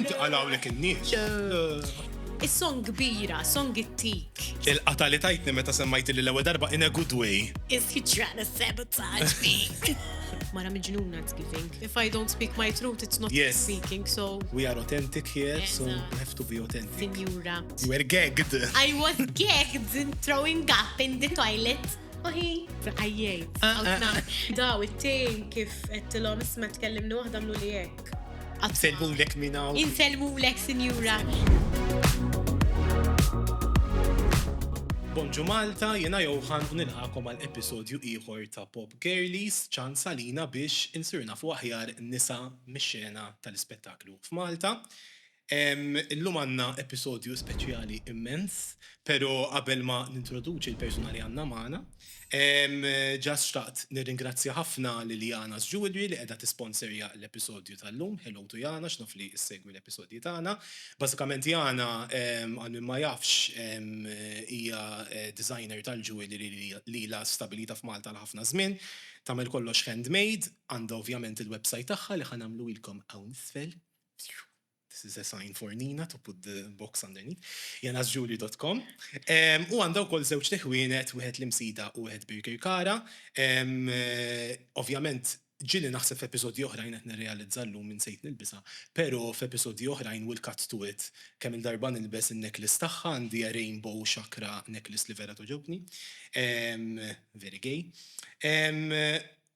Inti qalawlek in-nies. Is-song kbira, song it-tik. Il-qata li tajtni meta semmajt li l-ewwel darba in a good way. Is he trying to sabotage me? Mara miġnuna it's giving. If I don't speak my truth, it's not yes. speaking, so. We are authentic here, so we have to be authentic. Signora. You were gagged. I was gagged in throwing up in the toilet. Oħi, għajjajt. Ah, ah, ah. Daw, it-tin kif għettilom isma tkellimni waħda mlu li Insellmulek minn hawn. Insellmulek, Sinjura. Bonġu Malta, jena Johan u nilħakom għal episodju ieħor ta' Pop Girlies, ċans għalina biex insirna fuq aħjar nisa mix-xena tal-ispettaklu f'Malta. Illum għandna episodju speċjali immens, pero qabel ma nintroduċi l-persuna li għandna magħna, just xtaqt nirringrazzja ħafna lil Jana's Jewellery li qiegħda tisponserja l-episodju tal-lum. Hello to Jana's, naf li ssegwi l-episodji tagħna. Bażikament Jana, għal min ma jafx, hija designer tal-jewellery li ilha stabbilita f'Malta għal ħafna żmien. Tagħmel kollox handmade, għandha ovvjament il-website tagħha li ħa nagħmluhielkom hawn isfel. This is a sign for Nina to put the box underneath. janasjuli.com. U għandha wkoll żewġ teħwienet, wieħed l-Imsida u wieħed Birkirkara. Ovvjament, ġili naħseb f'episodji oħrajn qed nirrealizza llum min sejt nilbisha, pero f'episodji oħrajn will cut to it, kemm-il darba nilbes in-necklace tagħha, għandi a rainbow chakra necklace li vera togħġobni. Very gay.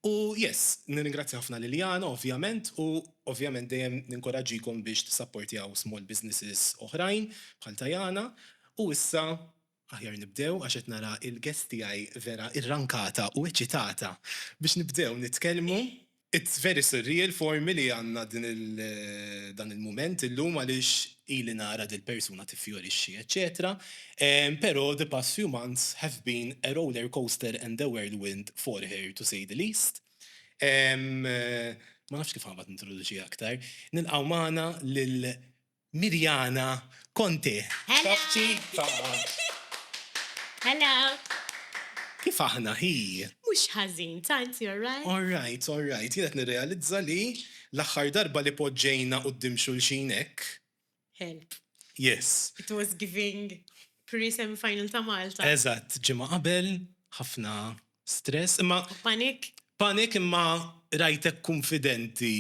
U yes, nirringrazzja ħafna Liliana ovvjament u ovvjament dejjem ninkoraġġikom biex tissapportjaw small businesses oħrajn bħal Tajana u issa aħjar nibdew għax qed nara il-guest tiegħi vera irrankata u eċitata biex nibdew nitkellmu. It's very surreal for me li għandna din il dan il-mument illum għaliex Ili nara dil-persuna tiffjorixxi eċċetera Però the past few months have been a roller coaster and a whirlwind for her to say the least Ma nafx kif għambat nintroduċiha aktar. Nilqgħu magħna lil Mirjana Conte. Hello! Kif aħna hi? Mhux ħażin, tant, you're right? All right, all right. Jien qed nirrealizza li L-aħħar darba li poġġejna quddiem xulxin hekk. Help. Yes. It was giving pre-semi final ta' Malta. Eżatt, ġimgħa qabel, ħafna stress, imma. Panic? Panic imma rajtek kunfidenti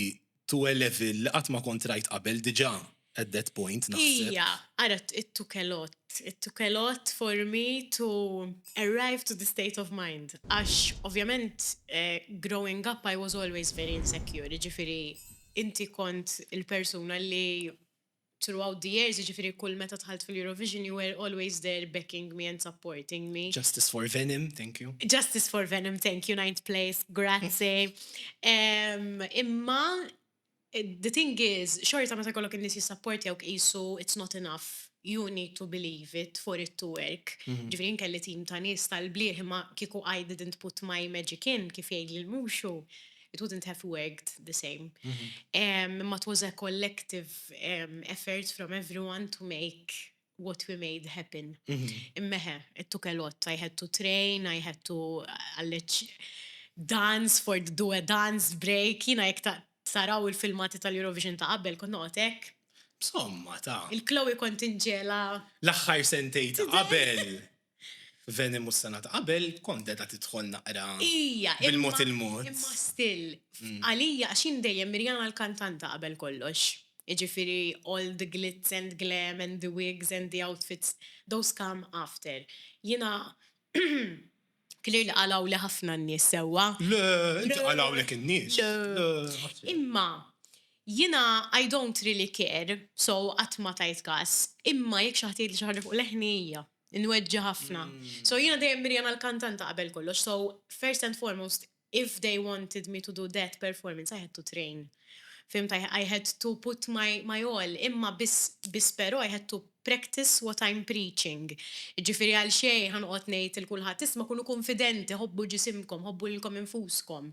to a level li qatt ma kont rajt qabel diġà. At that point, naħseb. Ija, ara it-tukelot. It-tukelot for me to arrive to the state of mind. Għax, ovvjament, eh, growing up I was always very insecure, jiġifieri inti kont il-persuna li throughout the years, jiġifieri kull meta dħalt fil-Eurovision you were always there backing me and supporting me. Justice for Venom, thank you. Justice for Venom, thank you, ninth place, grazzi. Imma The thing is, xorta meta jkollok in-nies jissapportjawk qisu it's not enough, you need to believe it for it to work. Jiġifieri jien kelli team ta' nies tal-blieh imma kieku I didn't put my magic in, kif jgħidli l-Mushu, it wouldn't have worked the same. Imma it was a collective effort from everyone to make what we made happen. Immeħe, it took a lot, I had to train, I had to għalleċ dance for the do a dance break, jina jek taraw il-filmati tal-Eurovision ta' qabel, kont noqgħod hekk. Somma ta'. Il-Chloe kont inġela. L-aħħar sentej ta' qabel. Veni mhux sena ta' qabel, kont qiegħda tidħol naqra bil-mod il-mod. Imma still, għalija, għax jien dejjem Mirjana l-kantanta qabel kollox. Jiġifieri all the glitz and glam and the wigs and the outfits, those come after. Jiena clearly qalgħuli ħafna n-nies sewwa. Le, inti qalgħulek in-nies. Le. Imma Jiena I don't really care, so qatt ma tajt kas, imma jekk xi ħadd jgħidli xi ħaġa fuq leħni hija. Inweġġa' ħafna. So jiena dejjem Miriam għall-kantanta qabel kollox, so first and foremost if they wanted me to do that performance I had to train. Fhimt? I I had to put my my all, imma biss biss però I had to practice what I'm preaching. Jiġifieri għal xejn ħa noqgħod ngħid 'il kulħadd isma' kunu kunfidenti, ħobbu ġisimkom, ħobbu lilkom infuskom.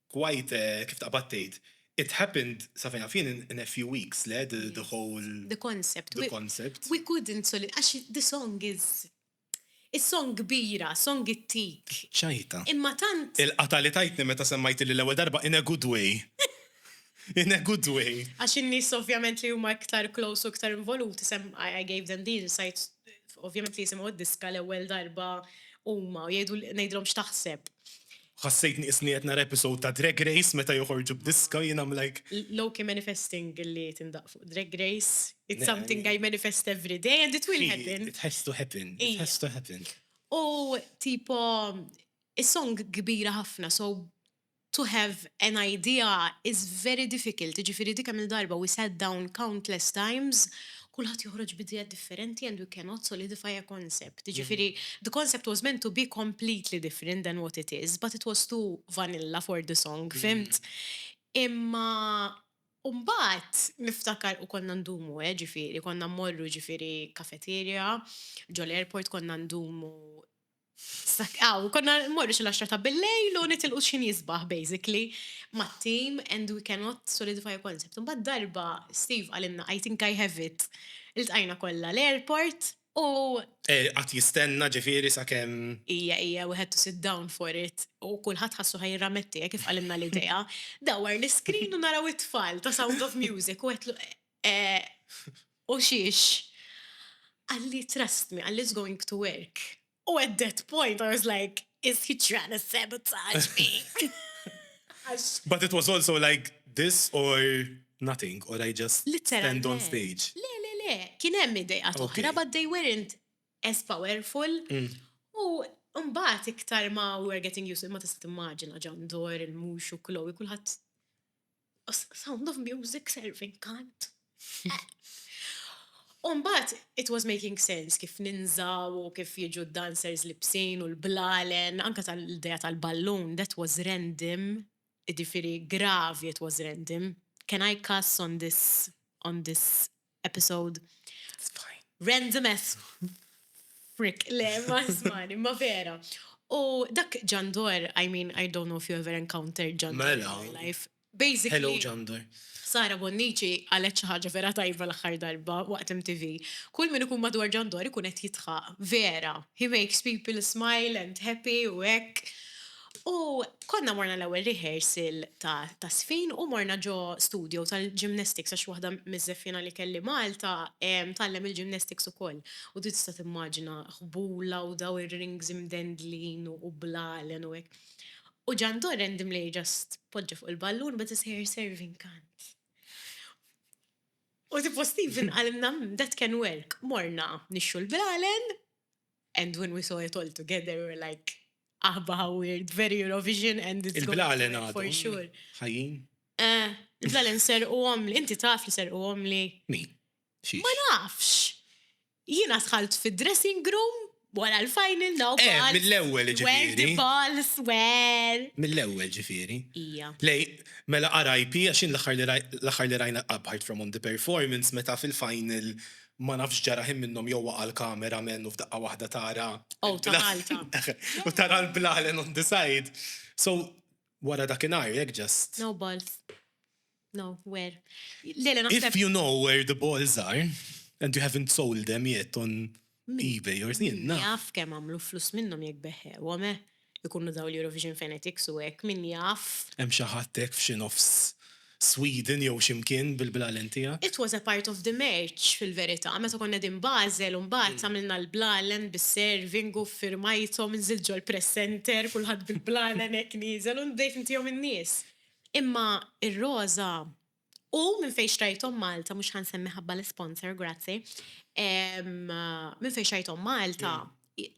Quite, kif taqbad tgħid. It happened, sa fejn naf jien, in a few weeks, le? The whole. The concept. The concept. We couldn't solid, għax the song is. Is-song kbira, song ittik. Ċajta. Imma tant. Il-qatgħa li tajtni meta semmajtilli l-ewwel darba in a good way. In a good way. Għax in-nies ovvjament li huma iktar close u iktar involuti sem, I gave them the insight, ovvjament li jisimgħu d-diska l-ewwel darba huma u jgħidu, ngħidilhom x'taħseb. Ħassejtni qisni qed nara episode ta' Drag Race meta joħorġu b'diska, jien I'm like. Low key manifesting li tindaqq fuq Drag Race, it's something I manifest every day and it will happen. It has to happen, it has to happen. U tipo, is-song kbira ħafna so to have an idea is very difficult, jiġifieri dik kemm-il darba we sat down countless times Kulħadd joħroġ b'ideja differenti and we cannot solidify a concept. Jiġifieri, the concept was meant to be completely different than what it is, but it was too vanilla for the song, fhimt? Imma u mbagħad niftakar u konna ndumu eh, ġifieri, konna mmorru ġifieri cafeteria, ġo l-airport konna ndumu Aw, konna mmorru xi l-għaxra ta' bil-lejl u nitilqu xi nisbaħ basically mat-tim and we cannot solidify a concept. Imbagħad darba Steve qalilna I think I have it. Iltqajna kollha l-airport u. Qagħad jistenna ġifieri sakemm. Ija, ija, we had to sit down for it u kulħadd ħassu ħa jirrametti hekk kif qalilna l-idea. Dawwar l-iscreen u naraw it-tfal ta' Sound of Music u għedtlu Eeh, u xiex? Qalli trust me, qalli it's going to work. U at that point I was like, is he trying to sabotage me? Għax. But it was also like this or nothing or I just stand on stage. Litteralment. Le, le, le, kien hemm ideat oħra but they weren't as powerful. U mbagħad iktar ma we were getting used to it, ma tista' timmaġina John Doerr, il-Mhux u Chloe, kulħadd. Sound of music serving kant. Umbat, it was making sense kif ninżaw u kif jiġu dancers libsin u l-blalen, anka tal-idea tal-ballun, that was random, ġifiri gravi it was random. Can I cuss on this on this episode. Random as frick, le, ma smani, ma vera. U dak ġandor, I mean, I don't know if you ever encountered ġandor in mela. your life. Basically. Hello ġandor. Sara Bonnici għalet xi ħaġa vera tajba l-aħħar darba waqt MTV. Kull min ikun madwar ġandor ikun qed jitħaq. Vera. He makes people smile and happy u hekk. U konna morna l-ewwel rehearsal ta' ta' żfin u morna ġo studio tal-gymnastics għax waħda miż-żeffiena li kelli Malta tgħallem il-gymnastics ukoll. U du tista' timmaġina ħbula u daw ir-rings imdendlin u blalen u hekk. U ġa ndorr Andy Mlej just poġġa fuq il-ballun but his hair serving kant. U tipo Stephen qalilna hmm that can work. Morna nixxu l-blalen and when we saw it all together we were like Aħba how weird, very Eurovision and it's going to end for sure. Ħajjin? Eh, il-blalen serqu għomli, inti taf li serqu għomli. Min? Ma nafx. Jina sħalt fi dressing room wara l-final no eh, balls. Mill-ewwel ġifieri. Where the balls were. Mill-ewwel ġifieri. Ija. Lej, mela RIP għax l-aħħar li rajna apart from on the performance meta fil-final Ma nafx x'ġara ħin minnhom jew waqa' l-camera man u f'daqqa waħda tara. Ow ta' Malta. U tara l-blalen on the side. So, wara dakinhar jekk just. No balls. No, where. Le, le naħseb. If you know where the balls are and you haven't sold them yet on ebay or. Min jaf kemm għamlu flus minnhom jekk beħħewhom, eh. Ikunu dawn l-Eurovision fanatics u hekk, min jaf. Hemm xi ħadd hekk f'xi nofs Sweden jew xi mkien bil-blalen tiegħek? It was a part of the merch fil-verità. Meta konna qegħdin Basel u mbagħad għamilna l-blalen bis-serving u ffirmajthom, nżilt ġol-press center, kulħadd bil-blalen hekk nieżel u bdejt ntihom in-nies. Imma r-roża U minn fejn xtrajthom Malta, mhux ħa nsemmi ħabba l-isponsor, grazzi. Minn fejn xtrajthom Malta,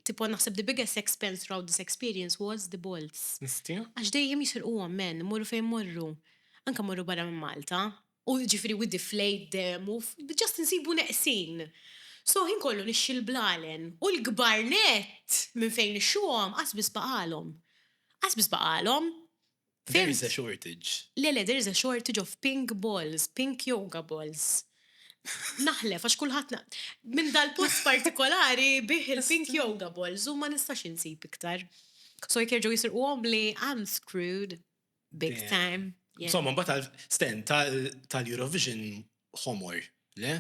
tipo naħseb the biggest expense throughout this experience was the bolts. Nistija? Għax dejjem jisirquhom men, morru fejn morru. Anka morru barra minn Malta. U ġifieri we deflate them u just insibu neqsin. So ħin kollu nixxi l-blalen u l-kbar nett minn fejn nixxuhom qas biss baqalhom. Qas biss baqalhom. There is a shortage. Le, le, there is a shortage of pink balls, pink yoga balls. Naħlef, għax kullħat minn dal-post partikolari bih il-pink yoga balls u ma nistax insib iktar. So jek jerġgħu jisirqu għom li I'm screwed big time. Insomma, mbagħad stand tal-Eurovision homor, le?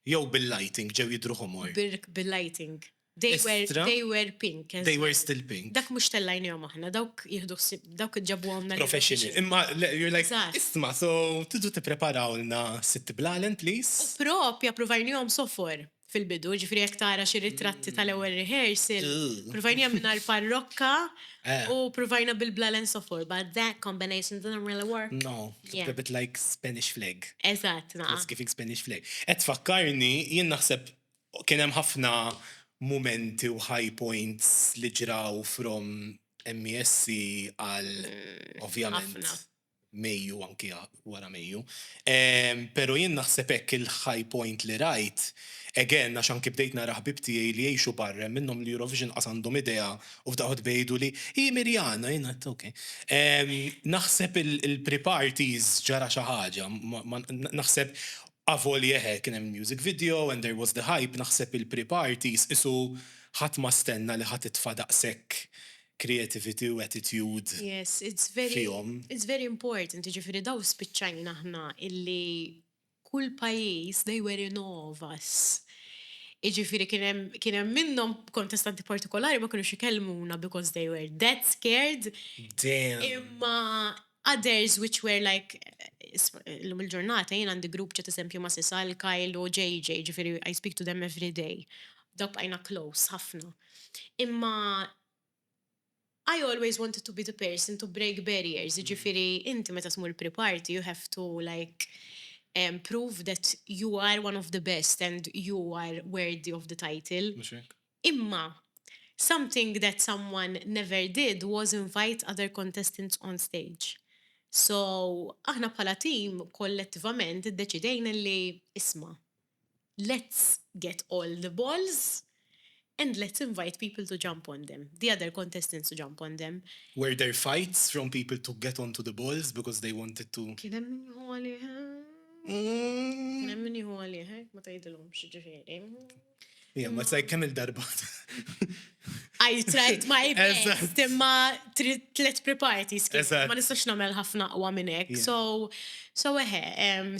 Jew bil-lighting ġew jidru homor. Bil-lighting. They were, Estra. they were pink. as They were well. still pink. Dak mhux tellajnihom aħna, dawk jieħdu ħsieb, dawk ġabuhomna. lil Professional. uffiċċju. Imma le, you're like, Eżatt. isma, so tidu tippreparawlna sitt blalen, please? Propja pruvajnihom sofor fil-bidu, ġifri jekk tara xi ritratti tal-ewwel rehearsal, Ugh. pruvajnija mingħajr parrokka Eh. u pruvajna bil-blalen sofor, but that combination didn't really work. No, it's Yeah. a bit like Spanish flag. Eżatt, naqa. It's giving Spanish flag. Et fakkarni, jien naħseb Kien hemm ħafna mumenti u high points li ġraw from MESC għal ovvjament Mejju u anki wara Mejju. Pero jien naħseb hekk il-high point li rajt, again għax anki bdejt nara ħbieb tiegħi li jgħixu barra hemm minnhom li Eurovision qas għandhom idea u f'daqqa waħda jgħiduli, Hi Mirjana! Jien għedt ok. Naħseb il-pre-parties ġara xi ħaġa, naħseb Avolja eħe, kien hemm il-music video and there was the hype, naħseb il-pre-parties qisu ħadd ma stenna li ħa titfa' daqshekk creativity u attitude fihom. Yes, it's very important, jiġifieri daw spiċċajna aħna illi kull pajjiż they were in awe of us. Jiġifieri kien hemm minnhom kontestanti partikolari ma kinux ikellmuna because they were that scared. Damn! Imma others which were like illum il-ġurnata jien għandi grupp ċat eżempju ma' Sisal, Kyle u JJ ġifieri I speak to them everyday. Dawk bqajna close ħafna. Imma I always wanted to be the person to break barriers, jiġifieri inti meta tmur pre-party you have to like prove that you are one of the best and you are worthy of the title. Imma, something that someone never did was invite other contestants on stage. So, aħna bħala team kollettivament iddeċidejna li, isma', let's get all the balls and let's invite people to jump on them, the other contestants to jump on them. Were there fights from people to get onto the balls because they wanted to? Kien hemm min jieħu għalih, kien hemm min jieħu għalih, hekk ma tgħidilhomx, jiġifieri. Jien ma tsajt kemm il-darba. I tried my best, imma tlet pre-parties ma nistax nagħmel ħafna aqwa minn hekk. So, so eħe,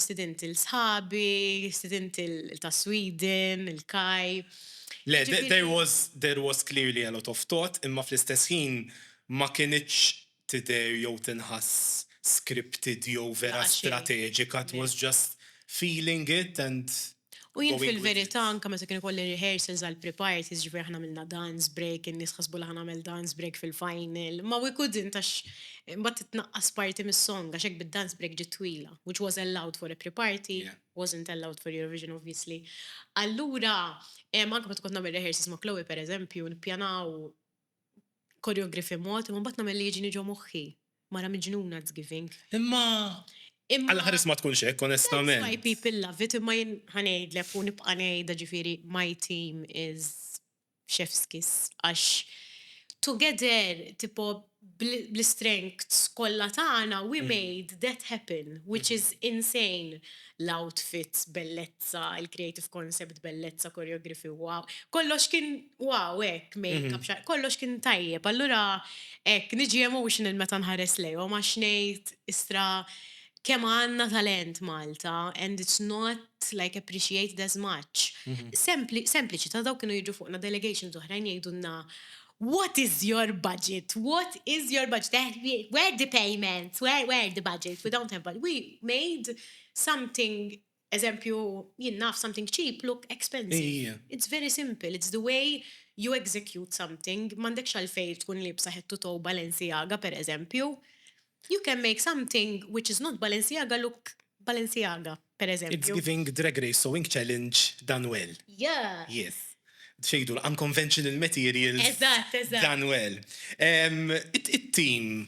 student il-sħabi, student ta' Sweden, il-kaj. Le, there was clearly a lot of thought, imma fl-istess ħin ma kienx tidher jew tinħass scripted jew vera strateġika it was just feeling it and going with it. U jien fil-verità anke meta kien ikolli rehearsals għal pre-parties, jiġifieri aħna għamilna dance break, in-nies ħasbu li ħa nagħmel dance break fil-final, ma we couldn't għax imbagħad titnaqqas parti mis-song għax hekk bid-dance break ġiet twila which was allowed for a pre-party, wasn't allowed for Eurovision obviously. Allura anke meta kont nagħmel rehearsals ma' Chloe pereżempju nippjanaw Choreography mod, imma mbagħad nagħmel li jiġini ġo moħħi. Mara miġnuna it's giving. Imma għal ħares ma tkunx hekk onestament. That's why people love it imma jien ħa ngħidlek u nibqa' ngħidha ġifieri my team is chef's kiss għax together tipo bl-istrengths kollha tagħna we made that happen which is insane. L-outfits bellezza, il-creative concept bellezza, choreography wow. Kollox kien Wow, ek, make-up, mhm. xar, kollox kien tajjeb. Allura, ek, niġi emotional meta nħares lejhom, għax ngħid istra kemm għandna talent Malta, and it's not like appreciated as much. Mhm. Sempliċi, ta' daw kienu jiġu fuqna delegations oħrajn jgħidulna What is your budget? What is your budget? Eh, where the payments? Where, where the budget? We don't have budget. We made something Eżempju, jien naf something cheap look expensive. It's very simple, it's the way you execute something, m'għandekx għalfejn tkun liebsa head to toe Balenciaga per eżempju. You can make something which is not Balenciaga look Balenciaga, per eżempju. It's giving Drag Race Sewing Challenge done well. Yeah! Yes. Xi jgħidu l-unconventional materials done well. It-team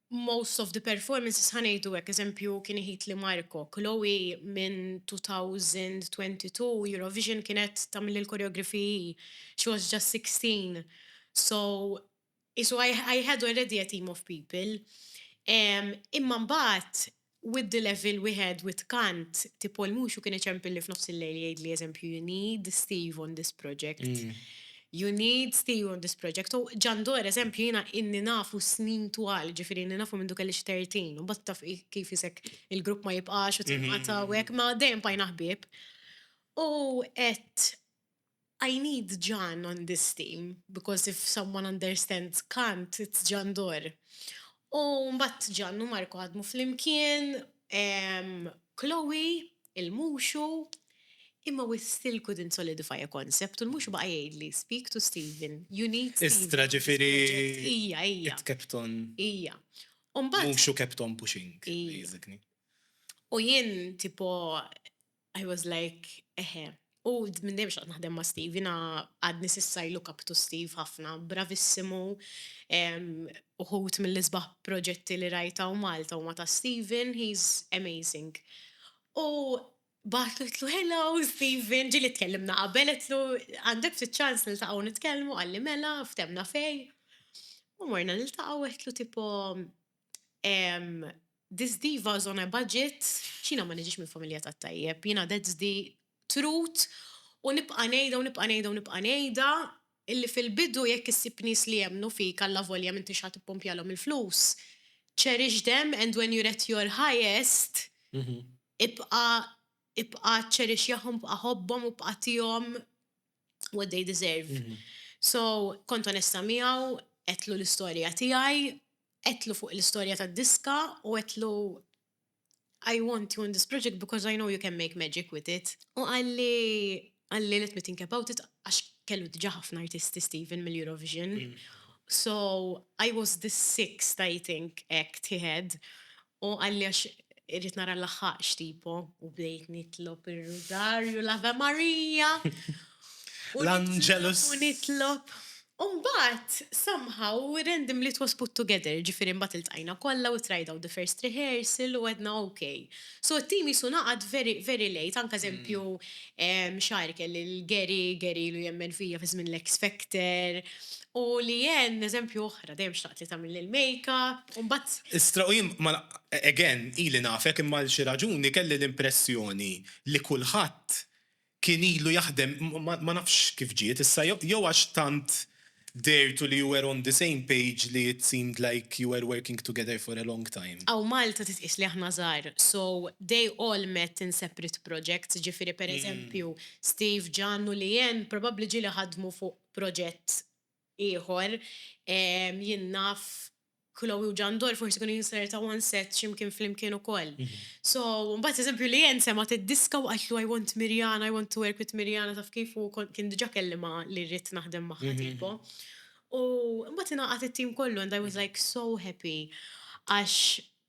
most of the performances ħa ngħidu hekk, eżempju kien iħitli Marco, Chloe minn 2022 Eurovision kienet tagħmilli l-choreography hi, she was just 16 so qisu I had already a team of people. Imma mbagħad Widd il-evil wieħed widd kant, tipo l-muxu kien iċempilli f'nofs il-lejl jgħidli eżempju you need Steve on this project, you need Steve on this project. U John Doerr eżempju jiena ilni nafu snin twal, jiġifieri ilni nafu mindu kellix tertin, u mbagħad taf kif isek il-grupp ma jibqax u tinqata' u hekk, ma dejjem bqajna ħbieb. U qed I need John on this team because if someone understands Kant it's John Doerr. U mbagħad John u Marco ħadmu flimkien, Chloe, il-Muxu, imma we still couldn't solidify a concept u l-Muxu baqa' jgħidli speak to Stephen, you need Stephen. Istra ġifieri it kept on. Ija. Muxu kept on pushing basically. U jien tipo I was like, eħe. U minn dejjem xtaqt naħdem ma' Steve, jiena għadni s'issa I look up to Steve ħafna, bravissimu, uħud mill-isbaħ proġetti li rajt hawn Malta huma ta' Steven, he's amazing. U bagħatlu għedtlu, hello Steven, ġieli tkellimna qabel, għedtlu għandek ftit ċans niltaqgħu nitkellmu, qalli mela, ftehmna fejn. U morna niltaqgħu għedtlu tipo, Em, this diva is on a budget, x'jiena ma niġix minn familja tat-tajjeb, jiena that's the truth u nibqa' ngħidha u nibqa' ngħidha u nibqa' ngħidha illi fil-bidu jekk issib nies li jemmnu fik allavolja m'intix ħa tippumpjalhom il-flus, cherish them and when you're at your highest, ibqa' ibqa' cherish-jahom, ibqa' ħobbhom u bqa' tihom what they deserve. So, kont onesta miegħu, għedtlu l-istorja tiegħi, għedtlu fuq l-istorja tad-diska u għedtlu I want you in this project because I know you can make magic with it. U għalli, għalli let me think about it, għax kellu diġa ħafna artisti Stephen mill-Eurovision. Mm. So, I was the sixth, I think, act he had. U qalli għax irrid nara nlaħħaqx tipo u bdejt nitlob ir-Rużarju, l-Ave Maria. L-Angelus. U nitlob. U mbagħad somehow randomly it was put together, jiġifieri mbagħad iltqajna kollha we tried out the first rehearsal u għedna ok. So t-team qisu ngħaqad very, very late, anke eżempju Xagħar kelli l-Gary, Gary ilu jemmen fija fi żmien l-X Factor, u Leanne eżempju oħra, dejjem xtaqt li tagħmilli l-makeup, u mbagħad. Istra u jien, again, ili nafek imma għal xi raġuni kelli l-impressjoni li kulħadd kien ilu jaħdem, ma nafx kif ġiet issa, jew għax tant Dehirtu li you were on the same page li it seemed like you were working together for a long time. Aw Malta titqies li aħna żgħar so they all met in separate projects, ġifieri per eżempju Steve, Jan u Leanne probabbli ġieli ħadmu fuq proġett ieħor, jien naf Chloe u Jandor forsi kienu jinsertaw on set ximkien flimkien ukoll. So, mbagħad eżempju li jen semgħet id-diska u qaltlu I want Mirjana, I want to work with Mirjana taf kif u kien diġà kellimha li rrid naħdem magħha tipo. U mbagħad ingħaqad it-tim kollu and I was like so happy għax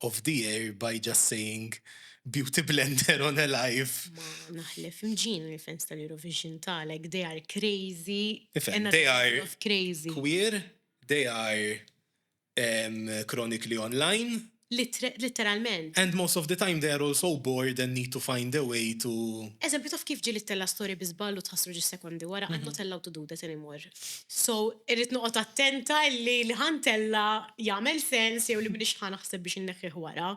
Off the air by just saying Beauty Blender on a live. Ma naħlef imġiena li fans tal-Eurovision ta' like they are crazy Tifhem, another they level are of crazy. queer, they are em chronically online, Littre, litteralment. and most of the time they are also bored and need to find a way to. Eżempju, taf kif ġieli ttella' story bi żball u tħassru ġis-sekondi wara, I'm not allowed to do that anymore. So, irrid noqgħod attenta li li ħa ntella' jagħmel sens jew li m'iniex ħa naħseb biex inneħħih wara.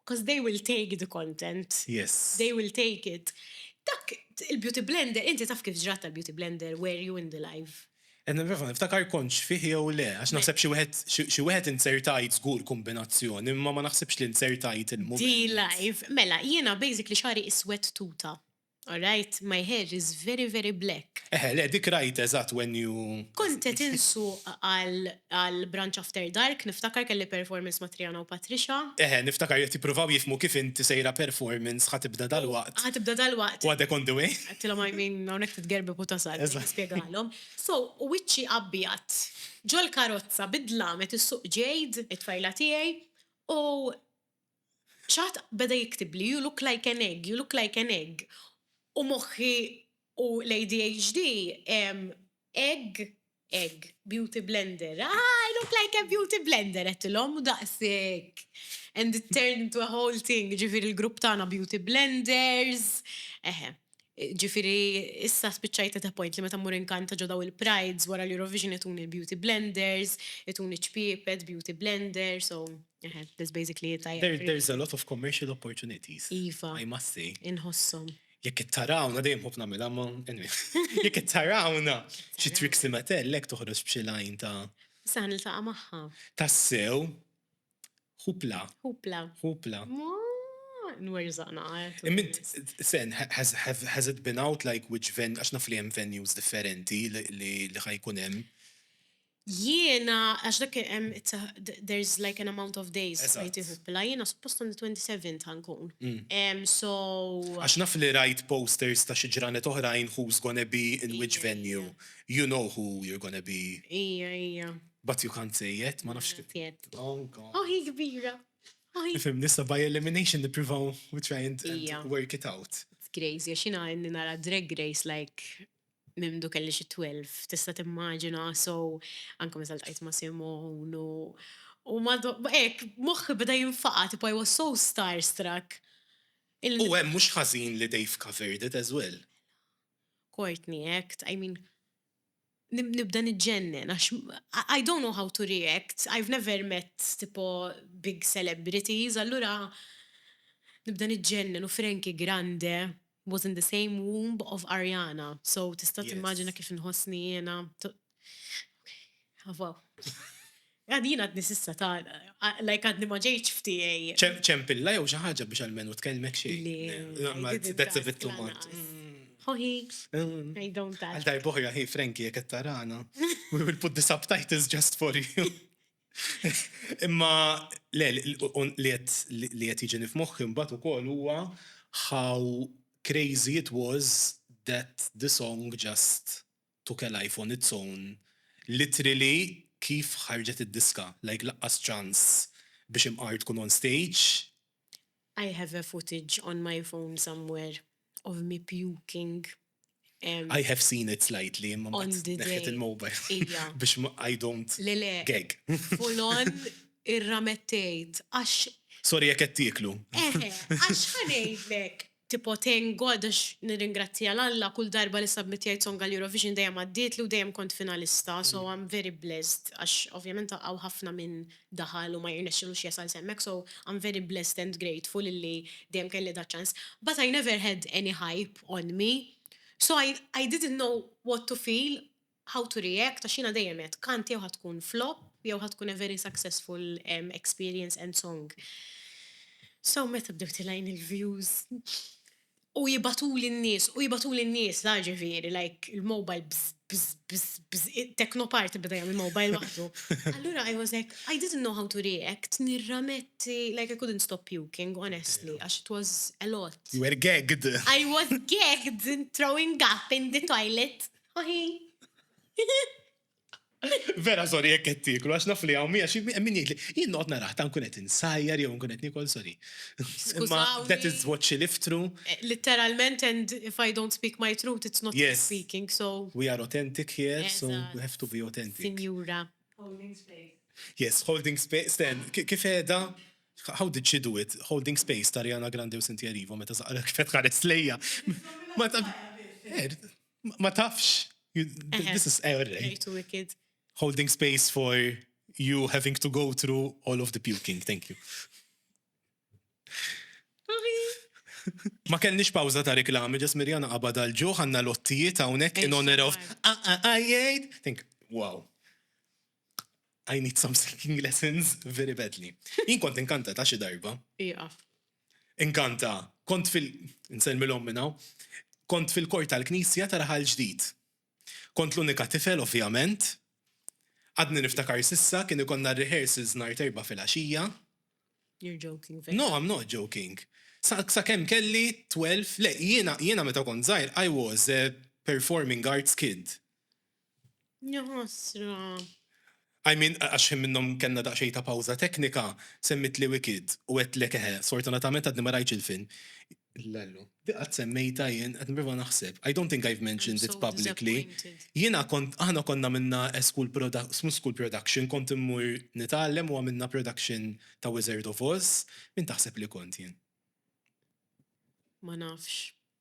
Because they will take the content. Yes. They will take it. Dak il-beauty blender, inti taf kif ġrat tal-beauty blender, were you in the live? Qed nipprova niftakar kontx fih jew le, għax naħseb xi wieħed xi wieħed inzertajt żgur kumbinazzjoni, imma ma naħsibx li nzertajt il-mument. Di live. Mela, jiena basically xagħri iswed tuta. Alright my hair is very very black. Eħe le dik rajt eżatt when you. Kont qed insuq għal Branch After Dark niftakar kelli performance ma' Triana u Patricia. Eħe niftakar li qed jippruvaw jifhmu kif int sejra performance ħa tibda dalwaqt. Ħa tibda dalwaqt. U għadek on the way. Għedtilhom I mean hawnhekk titgerbeb u tasal biex nispjegalhom. So wiċċi abjad ġol-karozza bid-dlam qed issuq Jade, it-tfajla tiegħi, u Xi ħadd beda jiktibli you look like an egg, you look like an egg u moħħi u l-ADHD egg, egg, beauty blender, ah I look like a beauty blender għedtilhom u daqshekk and it turned into a whole thing, jiġifieri l-grupp tagħna beauty blenders, eħe. Ġifieri issa spiċċajt at a point li meta mmur inkanta ġo dawn il-prides wara l-Eurovision ituni l-beauty blenders, ituni ċ-ċpiepet, beauty blender, so eħe, that's basically it, I agree. There is a lot of commercial opportunities, I must say. Iva, inħosshom. Jekk ittarawna, dejjem nħobb nagħmilha imma anyway. Jekk ittarawna xi Trixie Mattel hekk toħroġ b'xi line ta'. Issa ħa niltaqa' magħha. Tassew. Hupla. Hupla. Hupla. Nwerżaqna għajt. Imint, sen, has, has, has it been out like which venue, għax naf li hemm venues differenti li ħajkun hemm. Jiena, għax dak hemm, there's like an amount of days li tiħuppla, jiena suppost on the 27 ta' nkun. Mm. So. Għax naf li rajt posters ta' xi ġranet oħrajn who's gonna be in which venue. You know who you're gonna be. Ija, ija. But you can't say it, ma nafx kif. Tiet. Oh, God. Oh, hi kbira. Oh, hi. Fim, nissa by elimination niprivaw, we try and, Ija. and work it out. It's crazy, għax jina għenni nara drag race like mimdu kelli xi 12, tista timmaġina, so anka minn tal-tajt ma' Simon u u ma ek, moħħi beda jinfaqa, tipo I was so starstruck. Il- U hemm mhux ħażin li they've covered it as well. Courtney Act, I mean, nibda niġġennen għax I don't know how to react, I've never met tipo big celebrities, allura nibda niġġennen u Frankie Grande was in the same womb of Ariana, so tista' timmaġina kif inħossni jiena, ok, aww. Għad jien għadni s'issa ta' like għadni ma ġejtx f'tiegħi. Ċempilla jew xi ħaġa biex almenu tkellmek xejn. Le. That's a bit too much. Ħoħi. I don't ask. Għal darba oħra hi Frankie jekk qed tarana. We will put the subtitles just for you. Imma le li qed jiġini f'moħħi mbagħad ukoll huwa how crazy it was that the song just Tukel I phone it's own literally kif ħarġet id-diska like laqqas ċans biex imqar tkun on stage. I have a footage on my phone somewhere of me puking. I have seen it slightly imma mbagħad neħħejt il-mobile biex I don't gag. Full on irramettejt għax. Sorry jekk qed tieklu. Eħe, għax ħa ngħidlek, Tipo thank God għax nirringrazzja 'l Alla kull darba li submittjajt song għal Eurovision dejjem għaddietli u dejjem kont finalista so I'm very blessed għax ovvjament hawn ħafna min daħal u ma jirnexxilux jasal s'hemmhekk so I'm very blessed and grateful illi dejjem kelli da' ċans but I never had any hype on me so I I didn't know what to feel how to react għax jiena dejjem għedt kant jew ħa tkun flop jew ħa tkun a very successful experience and song. So meta bdew tilgħin il-views u jibgħatuli n-nies u jibgħatuli n-nies la ġifieri like il-mobile bżżż bżżż bżżż bżżż it-techno party beda jagħmel mobile waħdu. Allura I was like I didn't know how to react nirrametti like I couldn't stop puking honestly għax it was a lot. You were gagged. I was gagged throwing up in the toilet. Vera sorry jekk qed tieklu għax naf li hawn mija xi min jgħidli jien noqgħod narah ta' nkun qed insajjar jew nkun qed niekol sorry. Imma that is what she lived through. Eh, litteralment and if I don't speak my truth it's not me speaking so. We are authentic here so we have to be authentic. Sinjura. Holding space. Yes, holding space. Sten, kif qiegħda How did she do it? Holding space ta' Rihanna Grande u Cynthia Erivo meta saqra kif qed ħares lejja. Ma ta' Ma tafx. This is error. Too wicked. Holding space for you having to go through all of the puking. Thank you. Ma kellniex pawza ta' reklami, ġas Mirjana qabad għal ġuħ għanna lottijiet hawnhekk in honor of għajjajt. Think, wow. I need some singing lessons very badly. Jien kont inkanta ta' xi darba. Iqaf. Inkanta, kont fil. Insellmilhom minn hawn. Kont fil-kor tal-knisja ta' Raħal Ġdid. Kont l-unika tifel ovvjament. Għadni niftakar s'issa, kien ikollna r-rehearsals nhar t'Erbgħa filgħaxija. You're joking, veru? No, I'm not joking. Sa sakemm kelli twelve, le, jiena jiena meta kont żgħir I was a performing arts kid. Jaħasra. I mean, għax ħin minnhom kellna daqsxejn ta' pawża teknika, semmitli Wicked u għedtlek eħe, sfortunatament għadni ma rajtx il-film. Lallu, di qatt semmejtha jien, qed nipprova naħseb. I don't think I've mentioned it publicly. Jiena kont, aħna konna għamilna school production, mhux school production, kont immur nitgħallem u għamilna production ta' Wizard of Oz, min taħseb li kont jien? Ma nafx.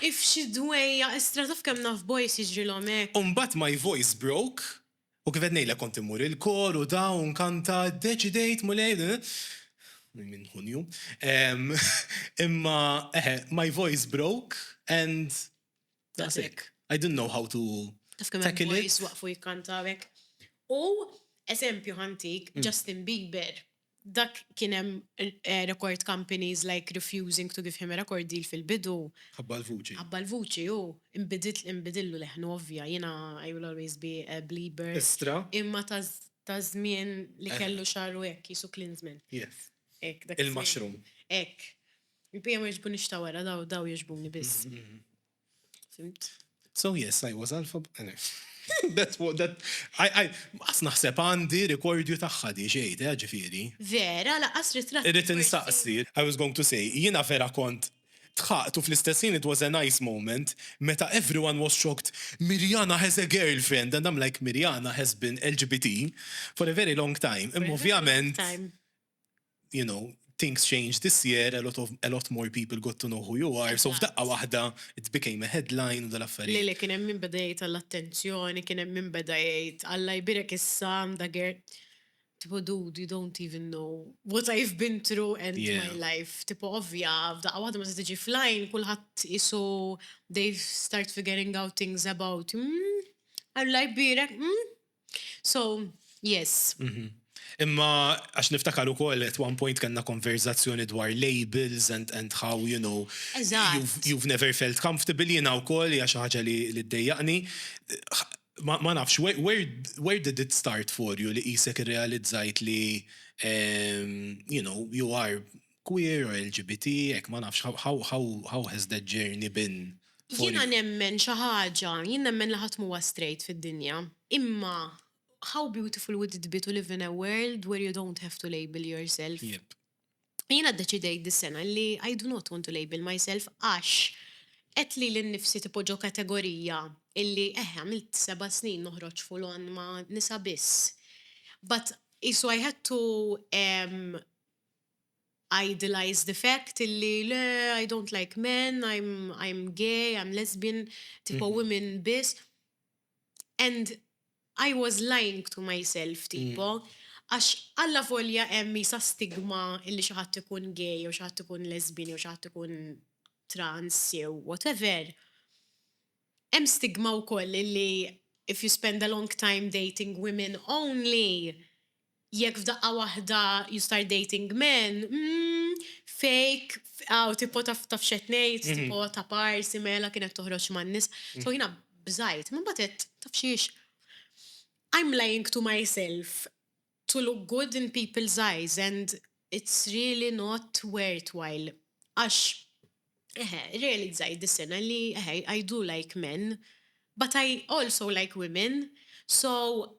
If xi dwejjaq istra taf kemm naf boys jiġrilhom hekk. U mbagħad my voice broke u kif qed ngħidlek kont immur il-kor u da u nkanta ddeċidejt Mulej li minn Ħunju ehm imma eħe my voice broke and that's it I didn't know how to tackle it. Taf kemm hemm boys waqfu jikkantaw hekk. U eżempju ħa ntik Justin Bieber. Dak kien hemm record companies like refusing to give him a record deal fil-bidu. Ħabba l-vuċi. Ħabba l-vuċi hu. Inbidillu leħnu ovvja. Jiena I will always be a Belieber. Estra. Imma ta' żmien li kellu xagħru hekk, qisu Klinsmann. Yes. Hekk dak iż-żmien. Il-mushroom. Hekk. Il-bqija ma jogħġbunix ta' wara, daw jogħġbuni biss. Fimt? So yes, I was alpha. That's what that I I qas naħseb għandi rekordju tagħha di xejn, eh, ġifieri. Vera, laqas ritratti. Irrid insaqsi, I was going to say, jiena vera kont dħaqt u fl-istess ħin it was a nice moment meta everyone was shocked, Mirjana has a girlfriend and I'm like Mirjana has been LGBT for a very long time. Imma ovvjament you know, things changed this year, a lot of a lot more people got to know who you are, so f'daqqa waħda it became a headline u dal-affarijiet. Le le kien hemm min beda jgħid għall-attenzjoni, kien hemm min beda jgħid Alla jbierek issa għandha girl. Tipo dude, you don't even know what I've been through and yeah. my life. Tipo ovvja, f'daqqa waħda ma se tiġi flying, kulħadd isu they've start figuring out things about. Mm, Alla jbierek, mm, So, yes. Mhm. Imma għax niftakar ukoll at one point kellna konverzazzjoni dwar labels and, and how, you know, you've, you've never felt comfortable jiena wkoll hija xi ħaġa li, li ddejjaqni. Ma, ma nafx, where, where, where did it start for you li qisek irrealizzajt li, um, you know, you are queer or LGBT hekk ma nafx how how how has that journey been for you? Jiena nemmen xi ħaġa, jien nemmen li ħadd m'huwa straight fid-dinja. Imma how beautiful would it be to live in a world where you don't have to label yourself? Yep. Jiena ddeċidejt dis-sena li I do not want to label myself għax qed lili nnifsi tipo ġo kategorija illi eħe għamilt seba' snin noħroġ full on ma' nisa biss. But qisu I had to idealize the fact illi le I don't like men, I'm I'm gay, I'm lesbian, tipo women biss. And I was lying to myself tipo għax allavolja hemm isa stigma illi xi ħadd ikun gay jew xi ħadd ikun lesbian jew xi ħadd ikun trans jew whatever, hemm stigma wkoll illi if you spend a long time dating women only Jekk f'daqqa waħda you start dating men, mm, fake, aw tipo taf taf x'qed ngħid, tipo ta' parsi mela kienet toħroġ man-nisa. So jiena bżajt, imbagħad għedt, taf xiex, I'm lying to myself to look good in people's eyes and it's really not worthwhile għax, eħe, irrealizzajt dis-sena li, eħe, I do like men but I also like women so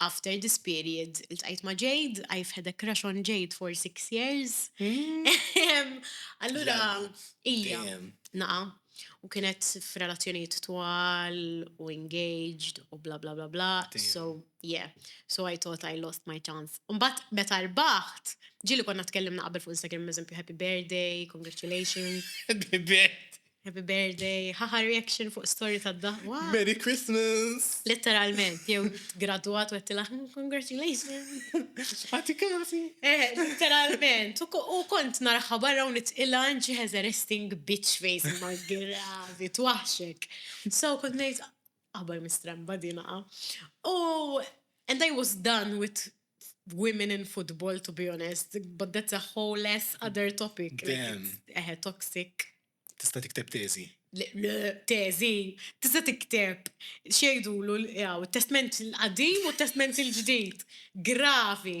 After this period, iltqajt ma' Jade, I've had a crush on Jade for six years. Allura, ija, naqa, u kienet f'relazzjonijiet twal, u engaged, u bla bla bla bla. So, yeah, so I thought I lost my chance. Mbagħad meta rbaħt, ġieli konna tkellimna qabel fuq Instagram, eżempju, happy birthday, congratulations. Happy birthday. Happy birthday, haha reaction fuq story ta' da. Merry Christmas! Letteralment, jew graduat u għettila, hmm, congratulations! Għati kasi! Eh, letteralment, u kont naraħħa barra u nitqila ġi has a resting bitch face ma gravi, twaħxek. So, kont nejt, Aħbar mistremba din aha. U and I was done with women in football to be honest, but that's a whole ass other topic. Eħe, toxic. Tista' tikteb teżi. Teżi, tista' tikteb xejdulu l-testment il-qadim u testment il-ġdid. Gravi.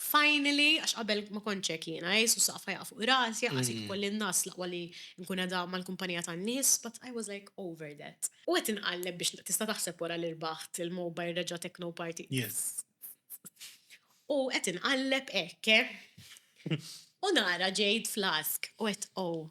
Finally, għax qabel ma kontx hekk jiena, Ġesu s-saqaf ħa jaqa' fuq rasi, anqas jekk ikolli n-nagħas l-aqwa li nkun qiegħda mal-kumpanija tan-nies, but I was like over that. U qed inqalleb biex, tista' taħseb wara li rbaħt il-mobile reġa' techno party? Yes. U qed inqalleb hekk, eh? U nara Jade Flask u għedt, Oh.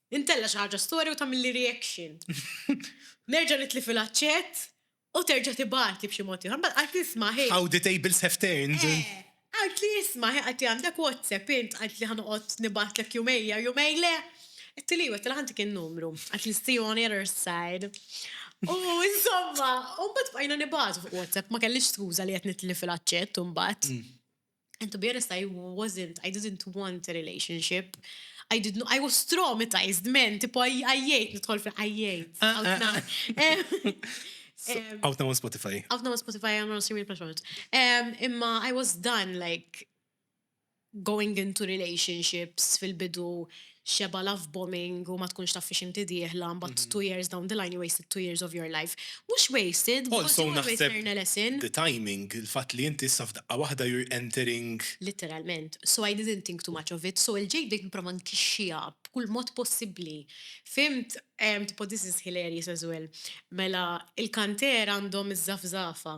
Intella' xi ħaġa storja u tagħmilli reaction. Nerġa' nitli' fil-aċċett u terġa' tibgħatli b'xi mod ieħor. Mbagħad qaltli isma' hi. How the tables have turned. Eh. Qaltli isma' hi qaltli għandek WhatsApp int qaltli ħa noqgħod nibgħatlek jumejn jew jumejn le. Għedtili iva għedtila ħantik in-numru. Qaltli see you on the other side. U insomma, u mbagħad bqajna nibgħatu fuq WhatsApp ma kellix skuża li qed nitli fil-aċċett imbagħad. And to be honest I wasn't, I didn't want a relationship. I didn't, I was traumatized men, tipo għajjajt nidħol fi għajjajt. Out now on Spotify. Out now on Spotify, I'm on streaming platforms. Um, imma I was done like going into relationships fil-bidu xebgħa love bombing u ma tkunx taf fiex inti dieħla, mbagħad two years down the line you wasted two years of your life. Mhux wasted, because you always learn a lesson. Also naħseb the timing, il-fatt li inti issa f'daqqa waħda you're entering. Litteralment. So I didn't think too much of it, so il-ġej bdejt nipprova nkixxiha b'kull mod possibbli. Fhimt? Tipo this is hilarious as well. Mela, il-kantier għandhom iż-żafżafa.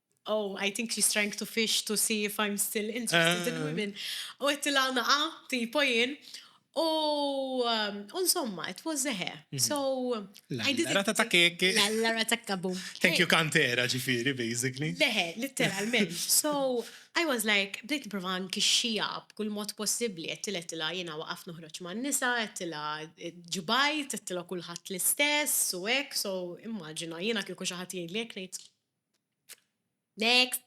Oh, I think she's trying to fish to see if I'm still interested in ah. women. U għettila naqa, tipo jien. U um, insomma, it was a hair. Mhm. So, I did Rata ta' kek. La rata kabum. Thank you kantera ġifiri, basically. Leħe, literalment. So, I was like, bdejt provan kixxija b'kull mod possibli, għettila għettila jena waqaf nuħroċ ma' nisa, għettila eh, ġubajt, għettila kullħat l-istess, u ek, so immaġina, jena kieku xaħat jgħid li jek Next.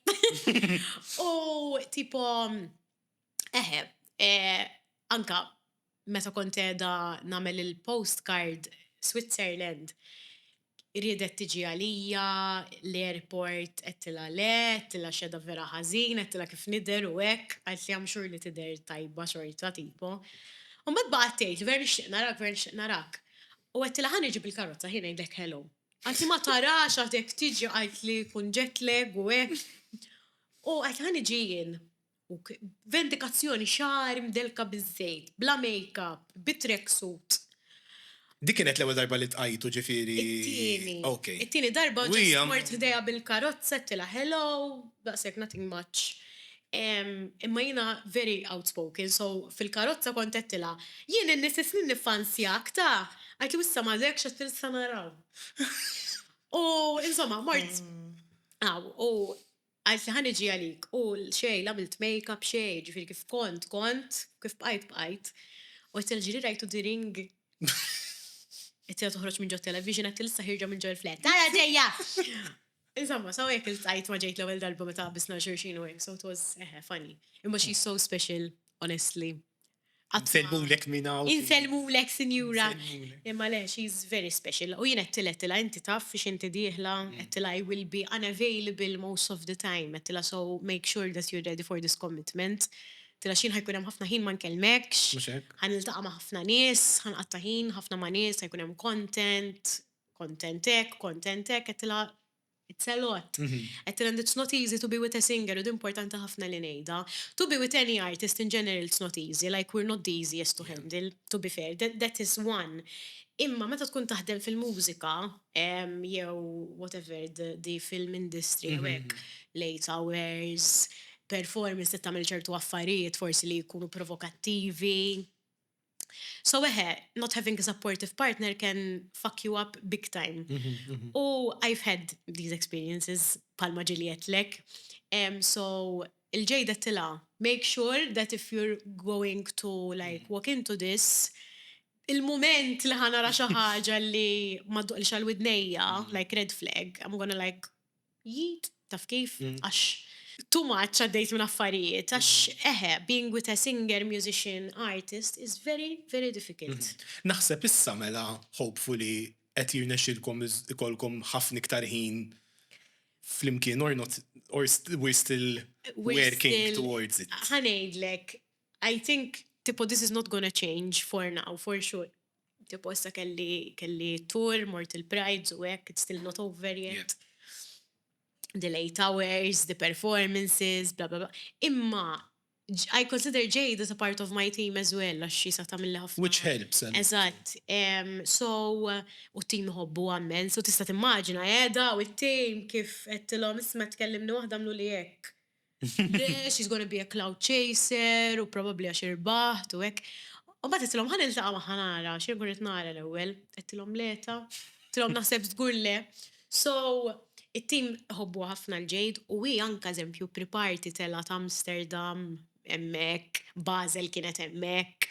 U tipo, eħe, eh, anka meta kont edha namel il-postcard Switzerland, riedet tiġi għalija, l-airport għedtila le, għedtila xedha vera ħażin, għedtila kif nidher u hekk, qaltli i am sure li tidher tajba xorta tipo. Mbagħad baqgħet tgħid, vera nixtieq narak, vera nixtieq narak. U għedtila ħa niġi bil-karozza ħi ngħidlek hello. Għaltli ma tarax għad jekk tiġi għaltli jkun jet lag u hekk. U għaltli ħa niġi jien. U vendikazzjoni xagħar mdellka biż-żejt, bla make up, bi track suit. Dik kienet l-ewwel darba li tqajtu ġifieri? It-tieni. Okej. It-tieni darba ġast mort ħdejha bil-karozza għedtilha hello, daqshekk nothing much. Imma jiena very outspoken so fil-karozza kont għedtilha, Jien in-nies is-snin niffansjak ta! Qaltli u issa m'għadekx għadt issa naraw. U insomma mort hawn u qaltli ħa niġi għalik u xejn l-għamilt makeup xejn, ġifieri kif kont kont, kif bqajt bqajt. U għedtilha ġieli rajtu the ring? Għedtilha toħroġ minn ġo television għedtilha issa ħierġa minn ġo l-flat. Ara ġejja! Insomma, so jekk il-tajt ma ġejt l-ewwel darba meta qabbisna xulxin u hekk, so it was eħe funny. Imma she's so special, honestly. Insellmulek minn hawn. Insellmulek sinjura. Imma le, she's very special. U jien qedtilha qedtilha inti taf fiex inti dieħla, qedtilha I will be unavailable most of the time, qedtilha so make sure that you're ready for this commitment. Qedtilha x'jien ħajkun hemm ħafna ħin ma nkellmekx, ħa niltaqa' ma' ħafna nies, ħa nqatta' ħin ħafna ma' nies, ħajkun hemm content, Kontent hekk, kontent hekk, għedtilha it's a lot. Għedtilha and it's not easy to be with a singer u di importanti ħafna li ngħidha. To be with any artist in general it's not easy, like we're not the easiest to handle, to be fair, that is one. Imma meta tkun taħdem fil-mużika jew whatever the film industry u hekk, late hours, performance trid tagħmel ċertu affarijiet forsi li jkunu provokattivi, So eħe, not having a supportive partner can fuck you up big time. U I've had these experiences palma ġili għedtlek. So il-ġejda tila, make sure that if you're going to like walk into this, il-moment li ħanara xaħġa li madduqli xal-widnejja, like red flag, I'm gonna like Jid, taf kif, għax too much għaddejt minn affarijiet, għax eħe, being with a singer, musician, artist is very, very difficult. Naħseb issa mela hopefully qed jirnexxilkom ikollkom ħafna iktar ħin flimkien or not, or we're still working towards it. Ħa ngħidlek, I think tipo this is not gonna change for now, for sure. Tipo issa kelli kelli tour, mort il-prides u hekk, it's still not over yet. The late hours, the performances, bla bla bla. Imma I consider Jade as a part of my team as well, għax xi sa tagħmilli ħafna. Which helps. Eżatt. So, u t-team iħobbu għammen, so tista' timmaġina qiegħda u t-team kif għedtilhom isma' tkellimni waħda għamluli hekk. Le, she's gonna be a cloud chaser u probabbli għax irbaħt u hekk. U mbagħad għedtilhom ħa niltaqa' magħha nara xi nkun qed nara l-ewwel. Għedtilhom le ta. Għedtilhom naħseb żgur le. So, it-tim iħobbuha ħafna l-Jade u hi anke eżempju pri-party telgħet Amsterdam hemmhekk, Basel kienet hemmhekk,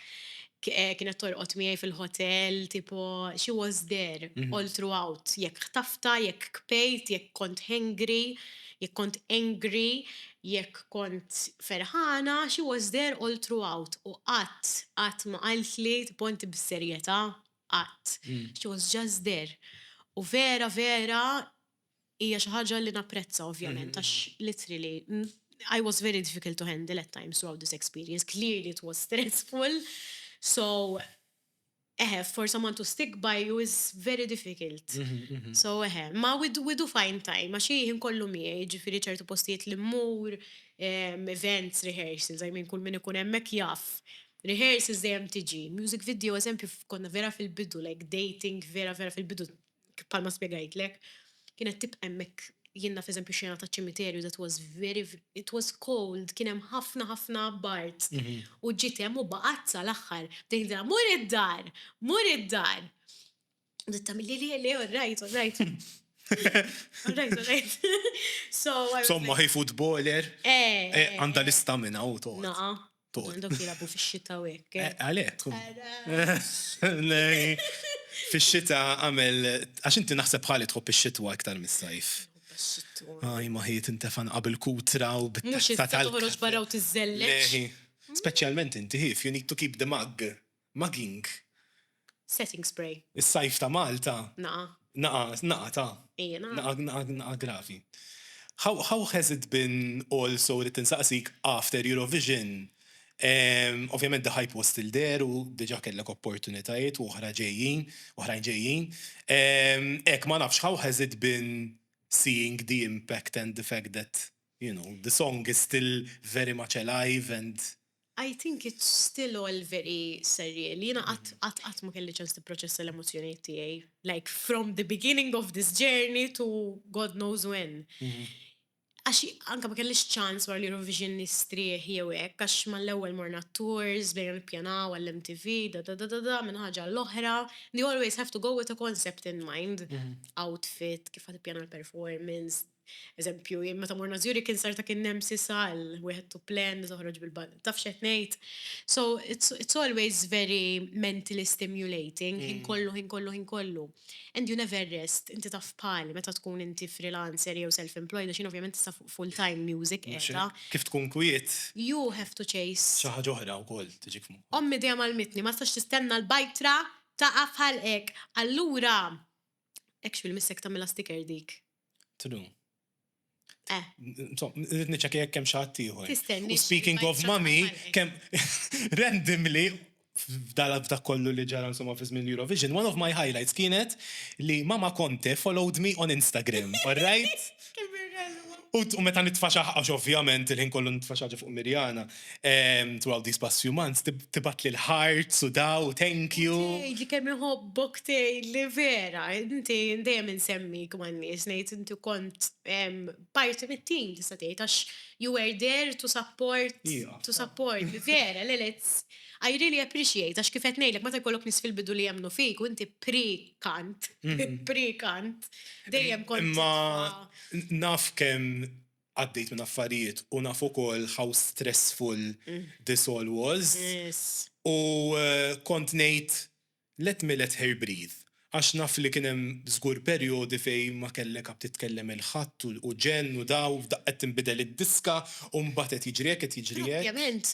kienet torqod miegħi fil-ħotel, tipo she was there all throughout, jekk ħtaftha, jekk kbejt, jekk kont hangry, Jekk kont angry, jekk kont ferħana, she was there all throughout u qatt, qatt ma qaltli tbonti bis-serjetà, qatt. She was just there. U vera, vera hija xi ħaġa li napprezza ovvjament għax literally I was very difficult to handle at times throughout this experience. Clearly it was stressful so Eħe, for someone to stick by you is very difficult. So eħe, ma we do find time, għax hi ħin kollu miegħi, ġifieri ċertu postijiet li mmur, events, rehearsals, I mean kull min ikun hemmhekk jaf. Rehearsals dejjem tiġi, music video eżempju konna vera fil-bidu, like dating vera vera fil-bidu bħalma spjegajtlek, kienet tibqa' hemmhekk, jien naf eżempju xena taċ-ċimiterju that was very, it was cold, kien hemm ħafna ħafna bard. U ġiet hemm u baqgħet sal-aħħar. Bdejt ngħidilha, mur id-dar, mur id-dar. U bdiet tagħmilli le, le, all right, all right. All right, all right. Insomma, hi footballer, għandha l-istamina u toqgħod. Tod. Dok jilabu fix-xita u hekk. Eh, Għalek. Fix-xita għamel, għax inti naħseb ħali tħobb ix-xitwa iktar mis-sajf. Għaj, maħiet intefan qabel kutra u bit Mux tal toħroġ barra u tiżżellex. Speċjalment inti ħif, you need to keep the mug. Mugging. Setting spray. Is-sajf ta' Malta. Naqa'. Naqa', naqa' ta'. Ejja, naqa'. Naqa', naqa', naqa' gravi. How, how has it been also, ridt insaqsik, after Eurovision? Ovvjament the hype was still there u diġà kellek opportunitajiet u oħra ġejjin, oħrajn ġejjin. Hekk, ma nafx, how has it been seeing the impact and the fact that You know, the song is still very much alive and. I think it's still all very surreal. Jiena qatt, qatt, qatt ma kelli ċans nipproċessa l-emozzjonijiet tiegħi. Like from the beginning of this journey to God knows when. Għax anke ma kellix ċans wara l-Eurovision nistrieħ jew hekk għax mal-ewwel morna t-tours, bdejna nippjanaw għall-MTV, da da da da da minn ħaġa għall-oħra. You always have to go with a concept in mind. Outfit, kif ħa tippjana l-performance, Eżempju, jien meta morna Zurich insarta kien hemm sisa għal wieħed to plan li toħroġ bil-bundle. Taf x'qed ngħid? So it's, it's always very mentally stimulating, ħin kollu, ħin kollu, ħin kollu. And you never rest, inti taf bħali meta tkun inti freelancer jew self-employed għax jien ovvjament issa fuq full time music qiegħda. Kif tkun kwiet. You have to chase. Xi ħaġa oħra wkoll tiġik f'moħħok. Ommi dejjem għallmitni ma tistax tistenna l-bajtra taqa' f'ħalqek. Allura Hekk x'bil missek tagħmilha sticker dik. True. Eh. Rrit niċċekja jekk hemm xi ħadd ieħor. Tistenni. Speaking of mami, kemm randomly f'dala f'dak kollu li ġara insomma fi żmien Eurovision, one of my highlights kienet li Mama Conte followed me on Instagram, all right? U meta nitfaxaħ, għax ovvjament il-ħin kollu nitfaxaħ ġo fuq Mirjana, throughout these past few months, tibgħatli l-hearts u daw, thank you. Tgħidli kemm iħobbok tgħidli vera, inti dejjem insemmik man-nies ngħid inti kont parti mit-tim tista' tgħid għax you were there to support, to support, vera, le le, I really appreciate għax kif qed ngħidlek meta jkollok nies fil-bidu li jemmnu fik u inti pri. kant, pre-kant, dejjem kont. Imma naf kemm għaddejt minn affarijiet u naf ukoll how stressful this all was. U kont ngħid let me let her breathe għax naf li kien hemm żgur perjodi fejn ma kellek għad titkellem il-ħadd u ġenn u daw, f'daqqa qed tinbidel id-diska u mbagħad qed jiġri hekk qed jiġri hekk. Ovvjament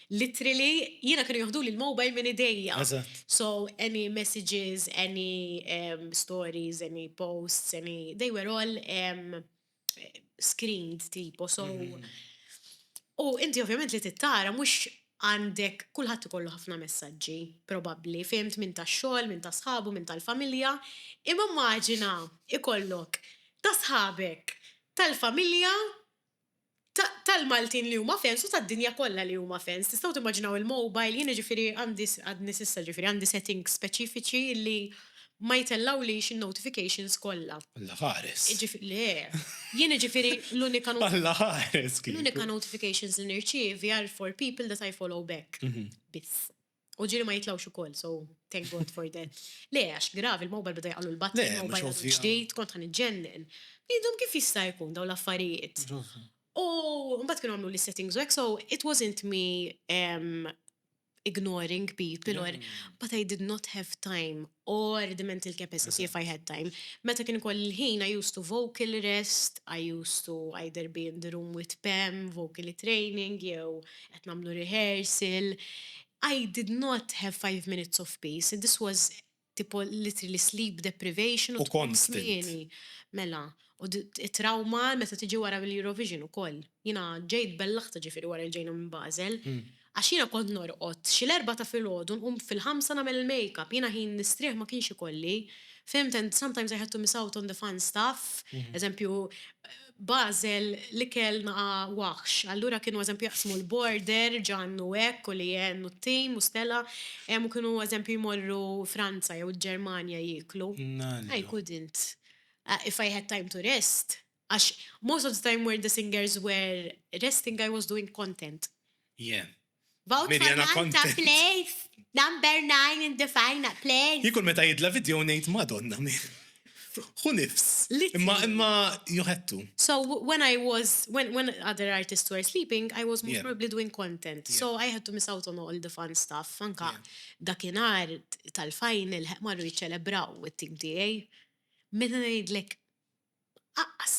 Literally, jiena kienu joħduli l-mobile minn idejja. Eżatt. So, any messages, any um, stories, any posts, any, they were all um, screened tipo, so. Mhm. U inti ovvjament li tittara mhux għandek kulħadd ikollu ħafna messaġġi, probabbli, fehmt minn tax-xogħol, minn ta' sħabu, minn tal-familja, imma immaġina ikollok ta' sħabek tal-familja tal-Maltin li huma fans u tad-dinja kollha li huma fans. Tistgħu timmaġinaw il-mobile, jiena ġifieri għandi għadni s'issa ġifieri għandi settings speċifiċi li ma jtellgħulix in-notifications kollha. Alla ħares! Le! Jiena ġifieri l-unika notification. Alla ħares kieku! L-unika notifications li nirċievi are for people that I follow back. Biss. U ġiri ma jitlawx u koll, so thank God for that. Le, għax grav, il-mobile bada jgħallu l-batni, il-mobile ġdijt, kont għan iġġennen. Jindum kif jista' jkun daw l-affarijiet. U mbatt kienu għamlu li settings u għek, so it wasn't me ignoring people or, but I did not have time or the mental capacity if I had time. Meta kien ikolli l-ħin I used to vocal rest, I used to either be in the room with Pam, vocally training, jew qed nagħmlu rehearsal. I did not have five minutes of peace, this was tipo literally sleep deprivation u tqums kmieni. Mela, u t-trawma meta tiġi wara l-Eurovision ukoll. Jiena ġejt bellaħta ġifieri wara li ġejna minn Basel. Għax jiena kont norqod xi l-erbgħa ta' filgħodu nqum fil-ħamsa nagħmel il-makeup, jiena ħin nistrieħ ma kienx ikolli. Fhimt and sometimes I had to miss out on the fun stuff, eżempju, Basel l-ikel naqa' waħx, allura kienu eżempju jaqsmu l-border, Ġann u hekk u Leanne u t-tim u Stella, u kienu eżempju jmorru Franza jew il-Ġermanja jieklu. I couldn't. If I had time to rest. Għax most of the time where the singers were resting I was doing content. Yeah. Vote for Nant ta' place! Number nine in the final place! Jien kull meta jidla video ngħid Madonna mi. Hu nifs. Imma imma you had to. So when I was when when other artists were sleeping I was most probably doing content. So I had to miss out on all the fun stuff. Anka dakinhar tal-final marru jiċċelebraw it-tim tiegħi. Meta ngħidlek Aqqas.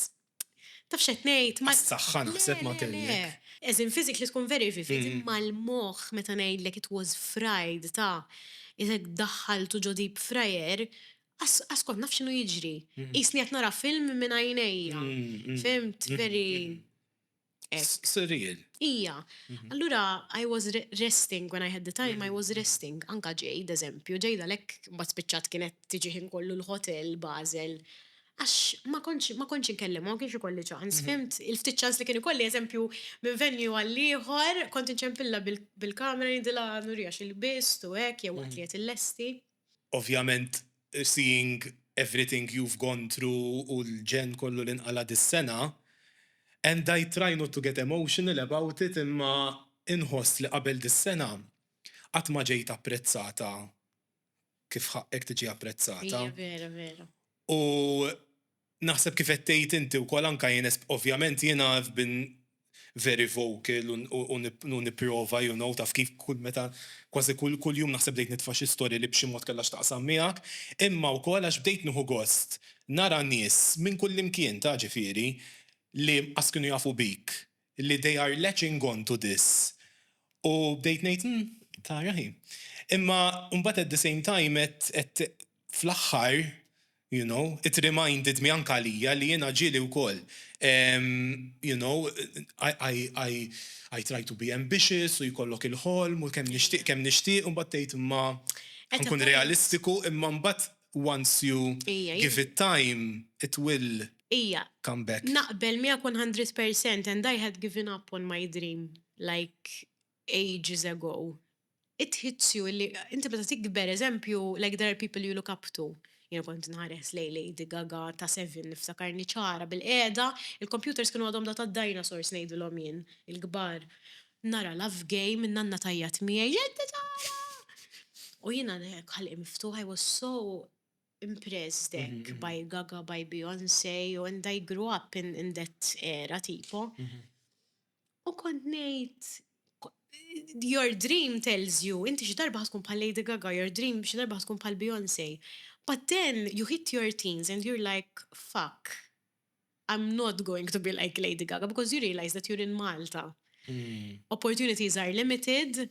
Taf x'qed ngħid? Ma. Għas-saħħa naħseb ma tgħinek. As in physically tkun very vivid, imma l-moħħ meta ngħidlek it was fried ta' isek daħħaltu ġo deep fryer, qas kont naf x'inhu jiġri. Qisni qed nara film minn għajnejja. Fhimt? Very. Surreal. Ija. Mhm. Allura, I was resting when I had the time, I mhm. was resting. Anka ġej, eżempju, ġej dalek bat spiċċat kienet tiġiħin kollu l-hotel, Basel. Għax ma konċ ma konċ inkellim, ma kienx ikolli ċans, mhm. fimt? Il-ftit ċans li kien ikolli, eżempju, minn venju għall-ieħor, kont inċempilla bil-kamera nidila nurjax il-bist u hekk jew għatliet il-lesti. Ovvjament seeing everything you've gone through u l-ġenn kollu li nqala' dis-sena and I try not to get emotional about it imma inħoss li qabel dis-sena qatt ma ġejt apprezzata kif ħaqqek tiġi apprezzata u Naħseb kif qed tgħid inti wkoll anke jien ovvjament jiena I've been very vocal u nipprova you know taf kif kull meta kważi kull jum naħseb bdejt nitfa' xi storja li b'xi mod kellha x'taqsam miegħek imma wkoll għax bdejt nieħu gost nara nies minn kullimkien ta' ġifieri li qas kienu jafu bik li they are latching on to this u bdejt ngħid hm, tara hi. Imma mbagħad at the same time qed fl-aħħar you know it reminded me anke għalija li jiena ġieli wkoll you know I try to be ambitious u jkollok il-ħolm u kemm nixtieq kemm nixtieq u mbagħad tgħid imma ħankun realistiku imma mbagħad once you give it time it will Ija. Come back. Naqbel miegħek one hundred percent and I had given up on my dream like ages ago. It hits you li inti meta tikber eżempju like there are people you look up to. Jiena kont inħares lejn Lady Gaga ta' seven niftakarni ċara bilqiegħda, il-computers kienu għadhom data dinosaurs ngħidilhom jien, il-kbar. Nara Love Game, nanna tgħajjat miegħi, Ġeddi tara! U jiena hekk ħalqi miftuħa I was so impressed hekk by Gaga, by Beyonce and I grew up in in that era tipo. U kont ngħid your dream tells you inti xi darba ħa tkun bħal Lady Gaga, your dream xi darba ħa tkun bħal Beyonce. But then you hit your teens and you're like fuck. I'm not going to be like Lady Gaga because you realize that you're in Malta. Opportunities are limited,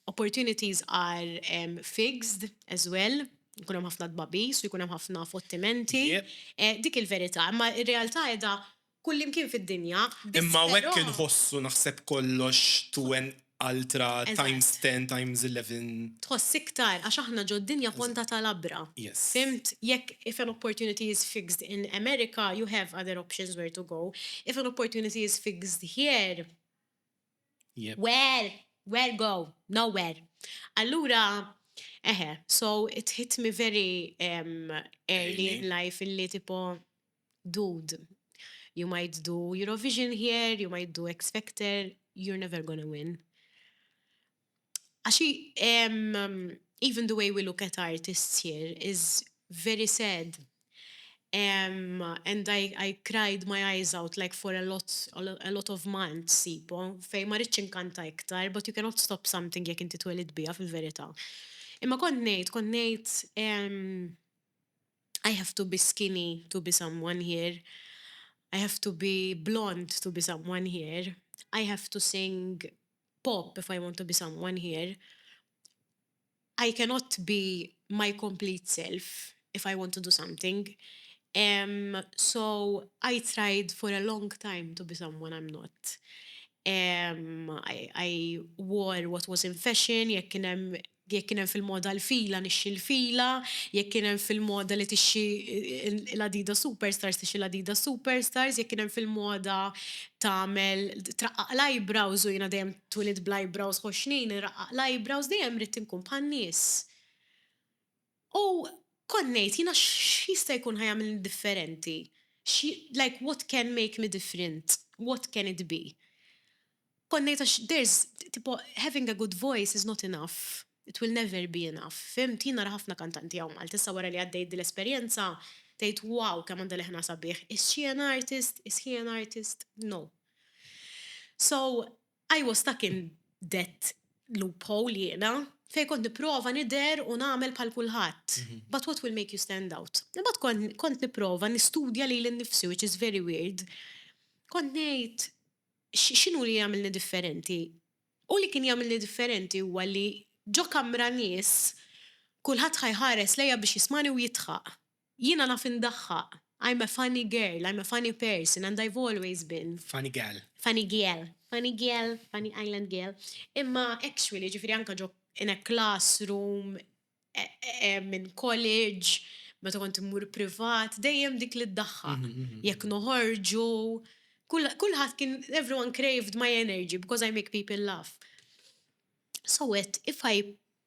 opportunities are um, fixed as well jkun hemm ħafna dbabis u jkun hemm ħafna fottimenti. Eh, dik il-verità, imma r-realtà qiegħda kullimkien fid-dinja. Imma hekk inħossu naħseb kollox to an altra times 10 times 11. Tħoss iktar għax aħna ġo dinja ponta ta' labra. Fhimt? Jekk if an opportunity is fixed in America you have other options where to go. If an opportunity is fixed here where where go? Nowhere. Allura eħe so it hit me very early in life illi tipo Dude, you might do Eurovision here, you might do X Factor, you're never gonna win. Għax even the way we look at artists here is very sad and I I cried my eyes out like for a lot a lot of months tipo fejn ma ridtx inkanta iktar but you cannot stop something jekk inti twelidt biha fil-verità. Imma kont ngħid, kont ngħid, I have to be skinny to be someone here, I have to be blond to be someone here, I have to sing pop if I want to be someone here, I cannot be my complete self if I want to do something, emm so I tried for a long time to be someone I'm not, emm I wore what was in fashion jekk kien hemm Jekk kien hemm fil-moda l-fila, nixxi l-fila. Jekk kien hemm fil-moda li tixxi l-Adidas Superstars, tixxi l-Adidas Superstars. Jekk kien hemm fil-moda tagħmel, traqqaq l-eyebrows u jiena dejjem twilidt bl-eyebrows ħoxxnin, inraqqaq l-eyebrows, dejjem ridt inkun bħan-nies. U kont ngħid, jiena x'jista' jkun ħa jagħmilni differenti? Like what can make me different? What can it be? Kont ngħid għax there's tipo having a good voice is not enough, it will never be enough, fhimt? Jien nara ħafna kantanti hawn Malta, issa wara li għaddejt dil-esperjenza, tgħid wow kemm għandha leħna sabiħ, is she an artist, is he an artist? No. So, I was stuck in that loophole jiena, fejn kont nipprova nidher u nagħmel bħal kulħadd. But what will make you stand out? Imbagħad kont kont nipprova nistudja lili nnifsi which is very weird. Kont ngħid x- x'inhu li jagħmilni differenti? U li kien jagħmilni differenti huwa li ġo kamra nies kulħadd ħa jħares lejja biex jismagħni u jidħaq. Jiena naf indaħħaq. I'm a funny girl, I'm a funny person and I've always been. Funny gal. Funny gal. Funny gal, funny island gal. Imma actually, ġifieri anke ġo in a classroom, in college, meta kont immur privat, dejjem dik li ddaħħaq. Jekk noħorġu, kulħadd kien, everyone craved my energy because I make people laugh. So għedt, if I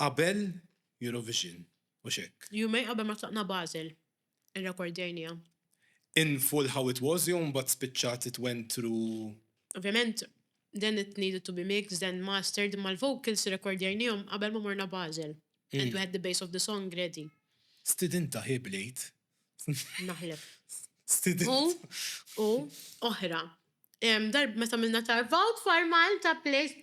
Qabel Eurovision, mhux hekk? Jumejn qabel ma tlaqna Basel, irrekordjajniha. In full how it was jew mbagħad spiċċat it went through? Ovvjament, then it needed to be mixed, then mastered, imma l-vocals irrekordjajnihom qabel ma morna Basel, and we had the base of the song ready. Stidinta hi b'lejt. Naħlef. Stidinta. U, u, oħra. Meta għamilna Tarvaw dwar Malta, plejt.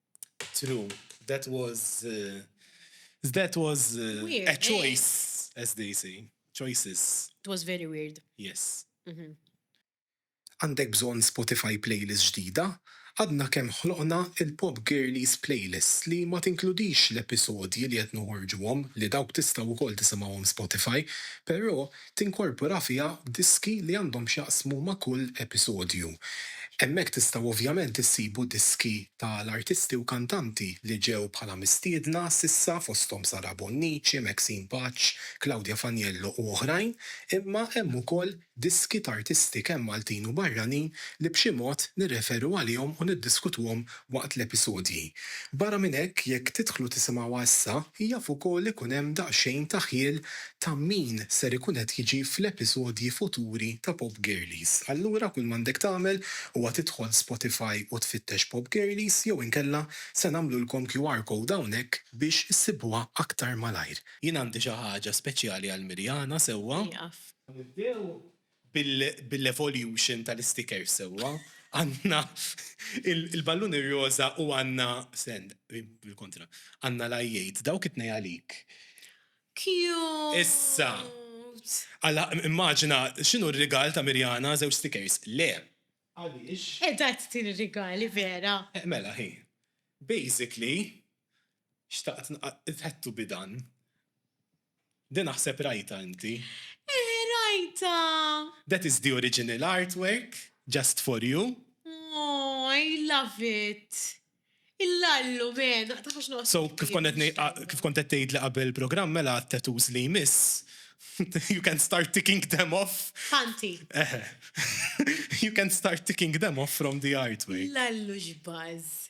True. That was uh, that was uh, weird, a eh? choice, eh? as they say. Choices. It was very weird. Yes. Mm -hmm. Għandek bżon Spotify playlist ġdida? Għadna kemm ħloqna il-Pop Girlies playlist li ma tinkludix l-episodji li qed noħorġuhom li dawk tistgħu wkoll tisimgħuhom Spotify, però tinkorpora fiha diski li għandhom x'jaqsmu ma' kull episodju. Hemmhekk tistgħu ovvjament issibu diski ta' l-artisti u kantanti li ġew bħala mistiedna s'issa fosthom Sara Bonnici, Maxine Paċ, Claudia Faniello u oħrajn, imma hemm ukoll diski t'artisti kemm Maltin u barranin li b'xi mod nirreferu għalihom u niddiskutuhom waqt l-episodji. Barra minn hekk, jekk tidħlu tisimgħuha issa, jaf ukoll ikun hemm daqsxejn ta' ħjiel ta' min ser ikun qed jiġi fl-episodji futuri ta' Pop Girlies. Allura kull m'għandek tagħmel huwa tidħol Spotify u tfittex Pop Girlies jew inkella se nagħmlulkom QR code hawnhekk biex issibuha aktar malajr. Jien għandi xi ħaġa speċjali għal Mirjana, sewwa? Nieqaf. Nibdew? bil-evolution tal-istikers sewwa, għandna il-ballun ir-roża u għandna, stand, bil-kontra, għandna l-għajjejt, dawk it-tnejn għalik. Cute! Issa, immaġina x'inhu r-rigal ta' Mirjana, żewġ stikers. Le! Għaliex? Qiegħda tagħtini rigali vera! Mela, hi. Basically, xtaqt nqattgħu bi dan. Di naħseb rajtha inti. Eħe rajtha! That is the original artwork, just for you. Aww, I love it! Il-lallu, been, taf għax noqgħod. So, kif kont qed ngħid, kif kont qed tgħidli qabel il-programm mela għat-tattoos li jmiss, you can start ticking them off. Ħanti. Eħe. You can start ticking them off from the artwork. Lallu x'buzz!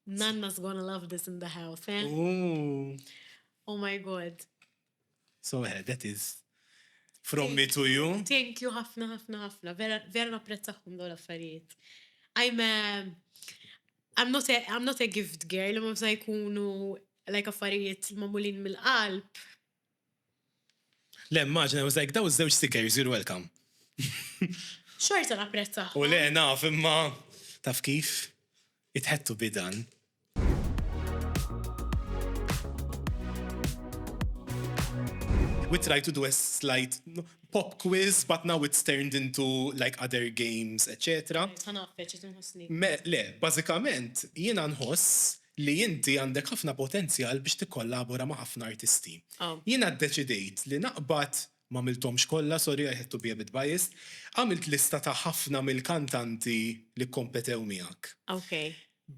Nanna's gonna love this in the house, eh? Ooh. Oh my god. So yeah, that is from me to you. Thank you ħafna ħafna ħafna. Vera vera napprezzakom dawn l-affarijiet. I'm a, I'm not a, I'm not a gift girl, imma msa jkunu like affarijiet mamulin mill-qalb. Le, immaġina, I was like, daw żewġ stickers, you're welcome. Xorta napprezza. U le, naf, imma taf kif? It had to be done. We tried to do a slight pop quiz, but now it's turned into like other games, etc. Le, bażikament jiena nħoss li inti għandek ħafna potenzjal biex tikkollabora ma' ħafna artisti. Jiena ddeċidejt li naqbad, m'għamilthomx kollha, sorry, I had to be a bit biased, għamilt lista ta' ħafna mill-kantanti li kkompetew miegħek.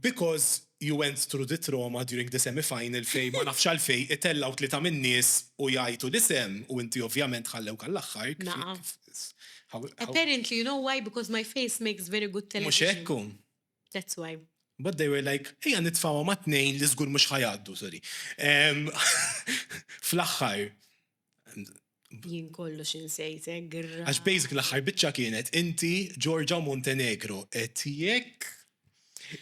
Because you went through the trauma during the semi final fejn ma nafx għalfejn itellgħu tlieta min-nies u jgħajtu l-isem u inti ovvjament ħallewk għall-aħħar kif kif how Apparently you know why because my face makes very good television. Mhux hekk hu? That's why. But they were like, ejja nitfawha ma' tnejn li żgur mhux ħajgħaddu, sorry. Fl-aħħar. Jien kollu xinsejtek, għirra. Għax basic l-aħħar biċċa kienet inti Georgia Montenegro et jekk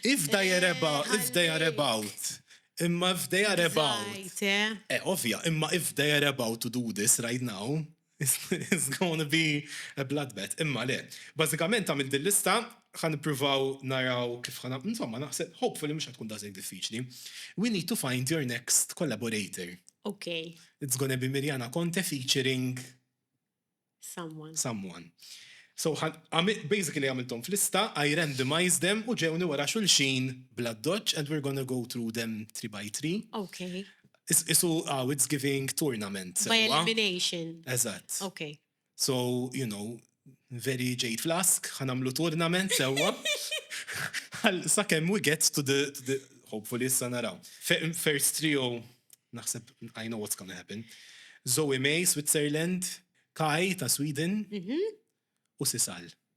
if they are eh, about, if they are about. Imma if they are about. Eh, eh ovvja, imma if they are about to do this right now, It's gonna be a bloodbath. Imma le. Bażikament għamilt din lista, ħa nippruvaw naraw kif ħa nagħmlu, insomma naħseb hopefully mhux ħa tkun daqshekk diffiċli. We need to find your next collaborator. Ok. It's gonna be Mirjana Conte featuring Someone. someone. So ħa għami- basically għamilthom f'lista, I randomized them u ġewni wara xulxin bl-addoċċ and we're gonna go through them three by three. Ok. Qisu aw it's giving tournament sewwa. By elimination. Eżatt. Okay. So, you know, very Jade Flask, ħa nagħmlu tournament sewwa. Sakemm we get to the, to the hopefully issa naraw. First trio naħseb I know what's gonna happen. Zoe May, Switzerland, Kai ta' Sweden, mhm. u Sisal.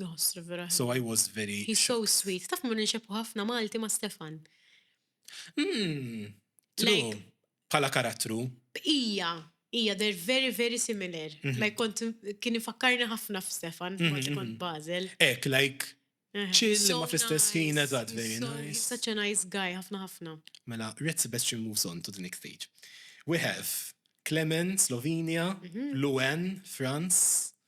Nħossru vera. So I was very. He's so sweet. Taf mur nxebħu ħafna Malti ma' Stefan. Hmm. True. Pala karattru. Ija, ija, they're very, very similar. Mhm. Like kont kien ifakkarni ħafna f'Stefan, mhm, kont mhm. Basel. Ek, like Chill eh, ma fl-istess ħin eżatt very nice. Such a nice guy, ħafna ħafna. Mela, Red Sebastian moves on to the next stage. We have Clement, Slovenia, Luen, France,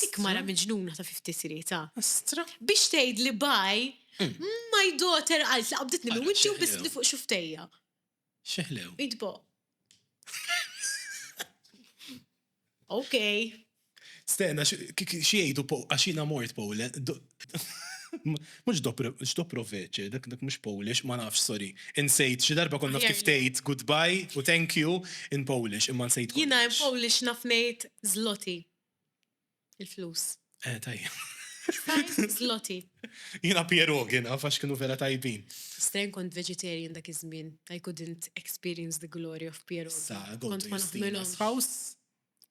Dik mara miġnuna ta' fifti srieta. Astra. Biex tgħid li baj, my daughter għalt li qabditni minn wiċċi u biss li fuq xuftejja. Xeħlew. Idbo. Ok. Stena, xiejdu po, għaxina mort Poland. Mux dobro veċe, dak dak mux Polish, ma nafx, sorry. Insejt, xi darba konna kif tgħid goodbye u thank you in Polish, imma nsejt. Jina in Polish nafnejt zloti. Il-flus. Eh, tajjeb. Zloti. Jina pierogi naf għax kienu vera tajbin. Stren kont vegetarian dak iż-żmien. I couldn't experience the glory of pierogi. Sa, go to your steamer's house.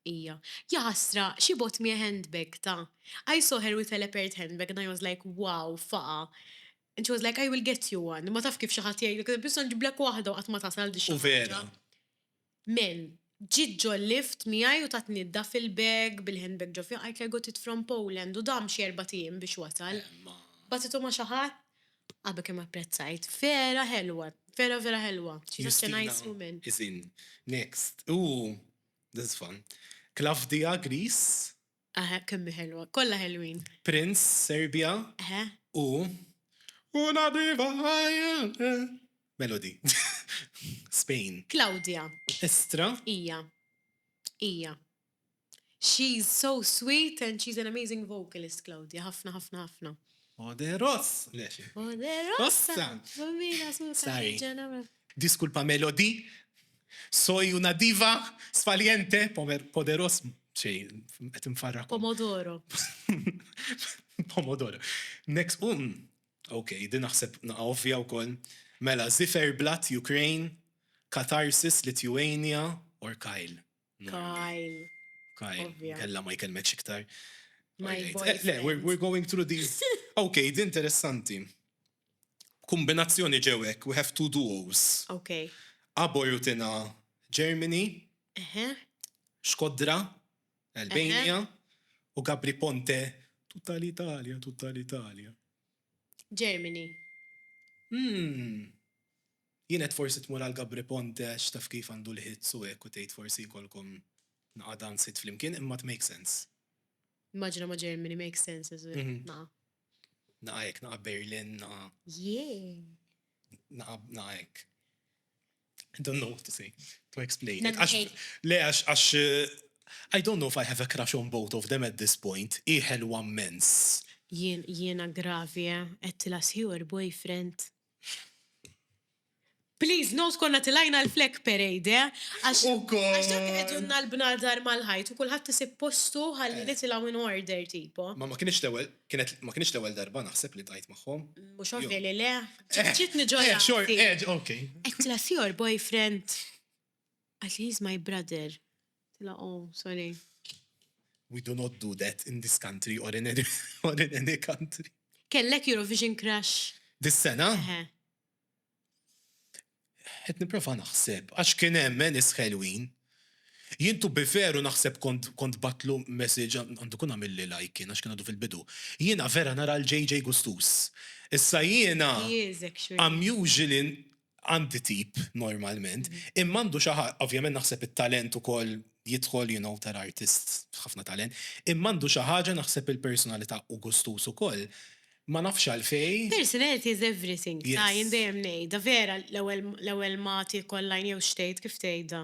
Ija. Ja ħasra, she bought me a handbag ta. I saw her with a leopard handbag and I was like, wow, faqa. And she was like, I will get you one. Ma taf kif xi ħadd jgħidlek, biss nġiblek waħda u qatt ma tasal di xi. U vera. Mel. Ġiet ġo l-lift miegħi u tatni d-duff il bag bil-hand bag ġo fih qajt l-I got it from Poland u dam xi erbat ijiem biex wasal. Bagħtitu ma xi ħadd? Abba kemm apprezzajt. Vera ħelwa. Vera vera ħelwa. She is such a nice woman. Justina is in. Next. Ooh. This is fun. Klavdia Greece. Aha kemm hi ħelwa. Kollha ħelwin. Prince, Serbia, u Una viva Haile Melody, Spain. Claudia, Estra. Hija. Hija. She's so sweet and she's an amazing vocalist Claudia. Ħafna ħafna ħafna. Poderos. Le xi. Poderosa. Ossa. Bambina assolutament. Sorry. Ġenera. Diskulpa Melody. Soy una diva, sfaliente, pomer, poderos, xej, qed infarrak. Pomodoro. Pomodoro. Next, um, ok, din naħseb naqa ovvja wkoll. Mela, Ziferblat, Ukraine, Katarsis, Lithuania, or Kyle. Kyle. Kyle, kella ma jkellmek iktar. Eh, le, we're going through these. Ok, din interessanti. B'kumbinazzjoni ġew hekk we have two duos. Ok. Abo Rutina, Germany. Eħe. Shkodra, Albania. Eħe. U Gabri Ponte, Tutta l-Italja, tutta l-Italja. Germany. Umm. Jien għedt forsi tmur għal Gabri Ponte għax taf kif għandu l-hits u hekk u tgħid forsi jkollkom naqa' dance hit flimkien imma tmakes sense. Immaġina ma' Germany makes sense as well. Naqa'. Naqa' hekk, naqa' Berlin, naqa'. Jee! Naqa', naqa' hekk. I don't know what to say, to explain. Le, għax, I don't know if I have a crush on both of them at this point, hi ħelwa mmens. Jiena gravi, eh? Għedtilha sħiħu l-boyfriend? Please note konna tilajna l-flag parade, eh? Għax għax dak qegħdunna l-bnadar mal-ħajt u kulħadd isib postu ħalli nitilgħu in order tipo. Ma ma kienx l-ewwel, kienet ma kienx l-ewwel darba naħseb li tajt magħhom. Mhux ovvja li le. Ġiet niġġorja. Eh, xor, eh, ok. Qedtilha si your boyfriend. Għax he is my brother. Tilha oh sorry. We do not do that in this country or in any or in any country. Kellek Eurovision crush? Dis sena? Eħe. Qed nipprova naħseb għax kien hemm Enis ħelwin. Jien to be fair u naħseb kont kont batlu message għandu kun għamilli like kien għax kien għadu fil-bidu. Jiena vera nara l-JJ Gustus. Issa jiena He is actually. I'm usually għandi tip normalment, imma għandu xi ħaġa, ovvjament naħseb it-talent ukoll jidħol, you know, tara artist b'ħafna talent, imma għandu xi ħaġa naħseb il-personalità u gustuż ukoll. Ma nafx għalfejn. Personality is everything, ta' jien dejjem ngħidha, vera l-ewwel l-ewwel ma tiekollha għajn jew x'tgħid, kif tgħidha?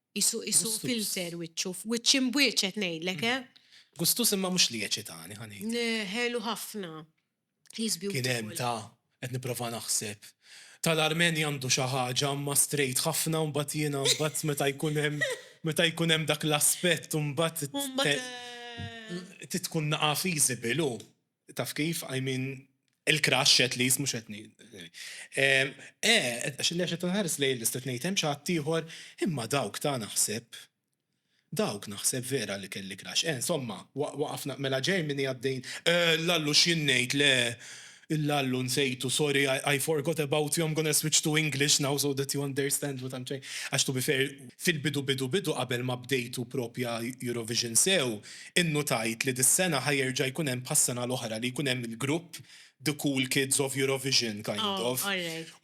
Qisu qisu filter wiċċu, wiċċ imbwiċet ngħidlek, eh! Gustus imma mhux li jeċitani, ħa ngħidlek. Le, ħelu ħafna. He's beautiful. Kien hemm ta' qed nipprova naħseb. Tal-Armenja għandu xi ħaġa imma straight ħafna u mbagħad jiena mbagħad meta jkun hemm meta jkun hemm dak l-aspett u mbagħad trid tkun naqgħa feasible hu. Taf kif, I mean, il-crush at least, mhux qed ngħid. Eh, għax li qed inħares lejn il-lista qed ngħid hemm xi ħaddieħor, imma dawk ta' naħseb, dawk naħseb vera li kelli crush. Eh, insomma, waqafna, mela Germany għaddejn, eh, l-Allu x'jien ngħid, le, il-Allu nsejtu, sorry, I forgot about you, I'm gonna switch to English now so that you understand what I'm trying, għax to be fair, fil-bidu bidu bidu qabel ma bdejtu proprja Eurovision sew, Innutajt li dis-sena ħa jerġa' jkun hemm bħas-sena l-oħra li jkun hemm il-grupp The Cool Kids of Eurovision kind of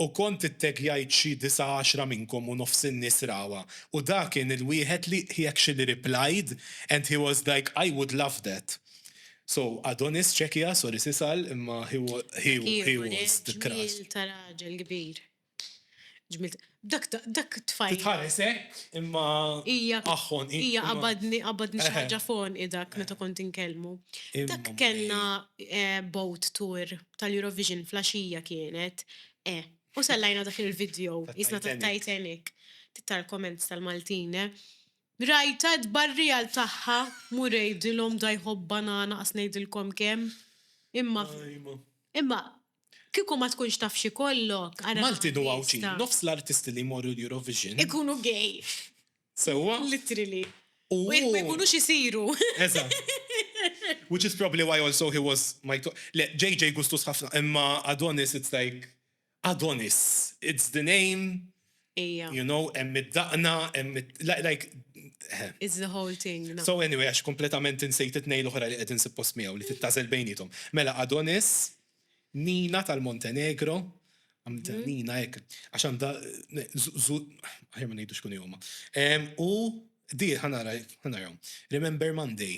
u kont ittaggjajt xi disa' għaxra minnkom u nofs in-nies rawha u da kien il-wieħed li he actually replied and he was like I would love that so Adonis Czekia sorry s'isal imma he he was the crush. Ġmiel ta' raġel kbir. Ġmilt. Dak ta' dak tfajjel. Titħares hekk imma aħħon hi. Hija qabadni qabadni xi ħaġa f'għonqi dak meta kont inkellmu. Dak kellna boat tour tal-Eurovision fl-għaxija kienet. Eh. U sellajna dak il-video qisna tat-Titanic. Tittar comments tal-Maltin, eh. Rajtha t-tbarrijal tagħha, mur għidilhom da jħobb banana qas ngħidilkom kemm. Imma imma. Kieku ma tkunx taf x'ikollok, ara Maltin u Għawdxin, nofs l-artisti li jmorru l-Eurovision. Ikunu gay. Sewwa? Literally. U jekk ma jkunux isiru. Eżatt. Which is probably why also he was my top. Le, JJ gustus ħafna, imma Adonis it's like Adonis. It's the name. Ija. You know, hemm id-daqna, hemm like. It's the whole thing. No. So anyway, għax kompletament insejt it-nej l-oħra li qegħdin suppost miegħu li tittażel bejnietom. Mela Adonis, Nina tal-Montenegro, għamda mhm. Nina hekk, għax għandha ħajja ma ngħidux kun huma. U di ħanara ħanarhom. Remember Monday.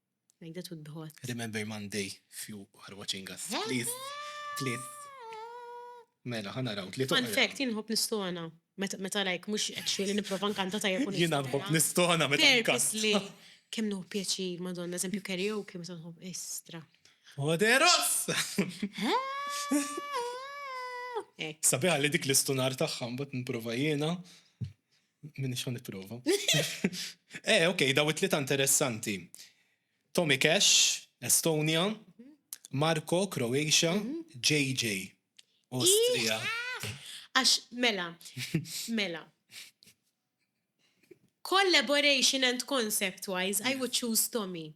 Like that would be hot. Remember Monday few are watching us. Please, please. Mela, ħana raw, li Fun fact, jien nħobb nistona. Meta like, mux actually niprofa nkanta ta' jekun. Jien nħobb nistona meta nkanta. Purposely. Kem nħobb pieċi, madonna, eżempju karaoke, meta nħobb istra. Poderos! Sabiħa li dik l-istunar taħħam, bat niprofa jiena. Minni xan niprofa. Eh, ok, daw it-tlieta interessanti. Tommy Cash, Estonia, Marko, Croatia, JJ, Austria. Għax, mela, mela. Collaboration and concept-wise, I would choose Tommy.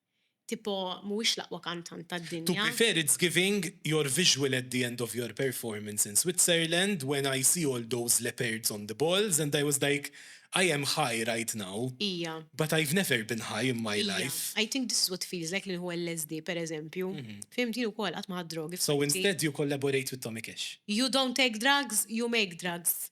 Tipo mhuwiex l-aqwa kantant tad-dinja. To be fair it's giving your visual at the end of your performance in Switzerland when I see all those leopards on the balls and I was like I am high right now Hija. but I've never been high in my life. Hija. I think this is what feels like li nieħu LSD per eżempju. Fhimt jien ukoll qatt ma ħadt drogi f'ħajti. So instead you collaborate with Tommy Cash. You don't take drugs, you make drugs.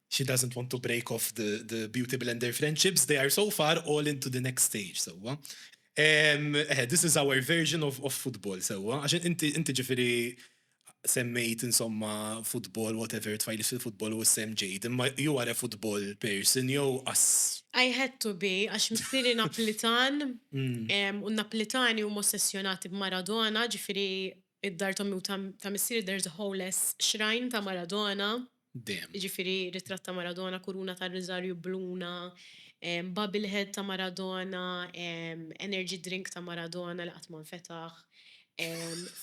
She doesn't want to break off the the beauty blender friendships, they are so far all in to the next stage sewwa. Ehm eħe this is our version of of football sewwa għax inti inti ġifieri semmejt insomma football whatever tfajliet fil-football u s-sehem ġejjed imma you are a football person jew ass. I had to be għax missieri Naplitan u n-Naplitani huma ossessjonati b'Maradona ġifieri Id-dar t'ommi u ta' missieri there's a whole less shrine ta' Maradona. Damn. Jiġifieri ritratt ta' Maradona, kuruna tar-riżarju bluna, bobble head ta' Maradona, energy drink ta' Maradona li qatt ma nfetaħ,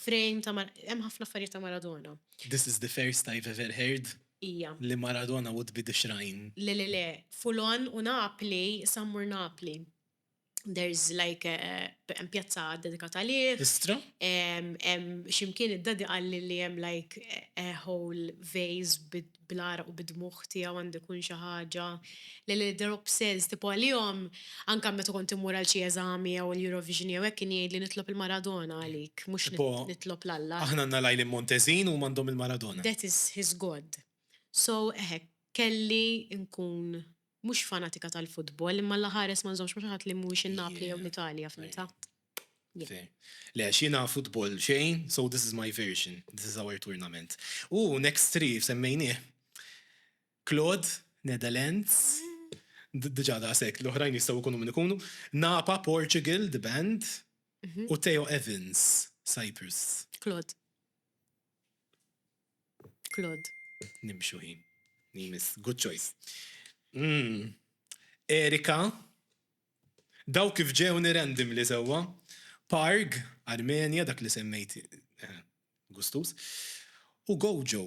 frame ta' hemm ħafna affarijiet ta' Maradona. This is the first I've ever heard Hija. li Maradona would be the shrine. Le le le, full on u Napli, issa mmur Napli. there's like hemm pjazza dedikata għalih. Istra? Ximkien id-dadi qalli li hemm like a whole vase bl-għaraq u bid-dmugħ tiegħu għandu jkun xi ħaġa li li they're obsessed tipo għalihom anke meta kont immur għal xi eżami jew l-Eurovision jew hekk kien jgħidli nitlob il-Maradona għalik mhux nitlob 'l Alla. Aħna għandna l-Għajlien Montezin huma għandhom il-Maradona. That is his God. So eħe kelli nkun Mhux fanatika tal-futbol, imma la ħares ma nżommx ma' xi ħadd li mhuwiex in-Napli jew l-Italja, fimtha? Fair. Le, għax jiena futbol xejn, so this is my version, this is our tournament. U next three semmejnieh, Claude, Netherlands, diġà daqshekk, l-oħrajn jistgħu jkunu min ikunu, Napa, Portugal, the band, u Theo Evans, Cyprus. Claude. Claude. Nimxu ħin li jmiss. Good choice. Erika. Dawk kif ġewni randomly sewwa. Parg, Armenia, dak li semmejt, gustuż. U Gojo.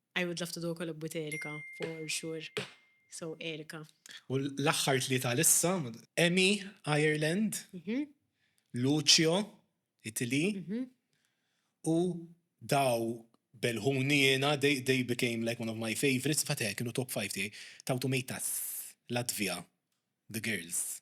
I would love to do a collab with Erika for sure so Erika. U l-aħħar tlieta għal issa, Emi, Ireland, Lucio, Italy, u daw belħuni jiena, they became like one of my favourites, infatti eħe kienu top five tiegħi, Tautumeitas, Latvia, the girls.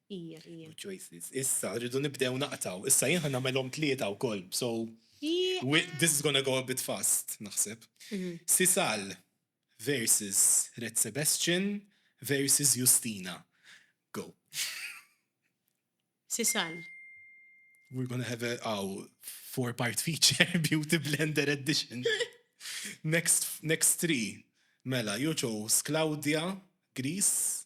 Ija, ija. Good choices. Issa rridu nibdew naqtgħu. Issa jien ħa nagħmilhom tlieta wkoll, so this is gonna go a bit fast, naħseb. Sisal versus Red Sebastian versus Justyna. Go. Sisal. We're gonna have a aw four part feature beauty blender edition. Next, next three. Mela, you chose Claudia, Greece,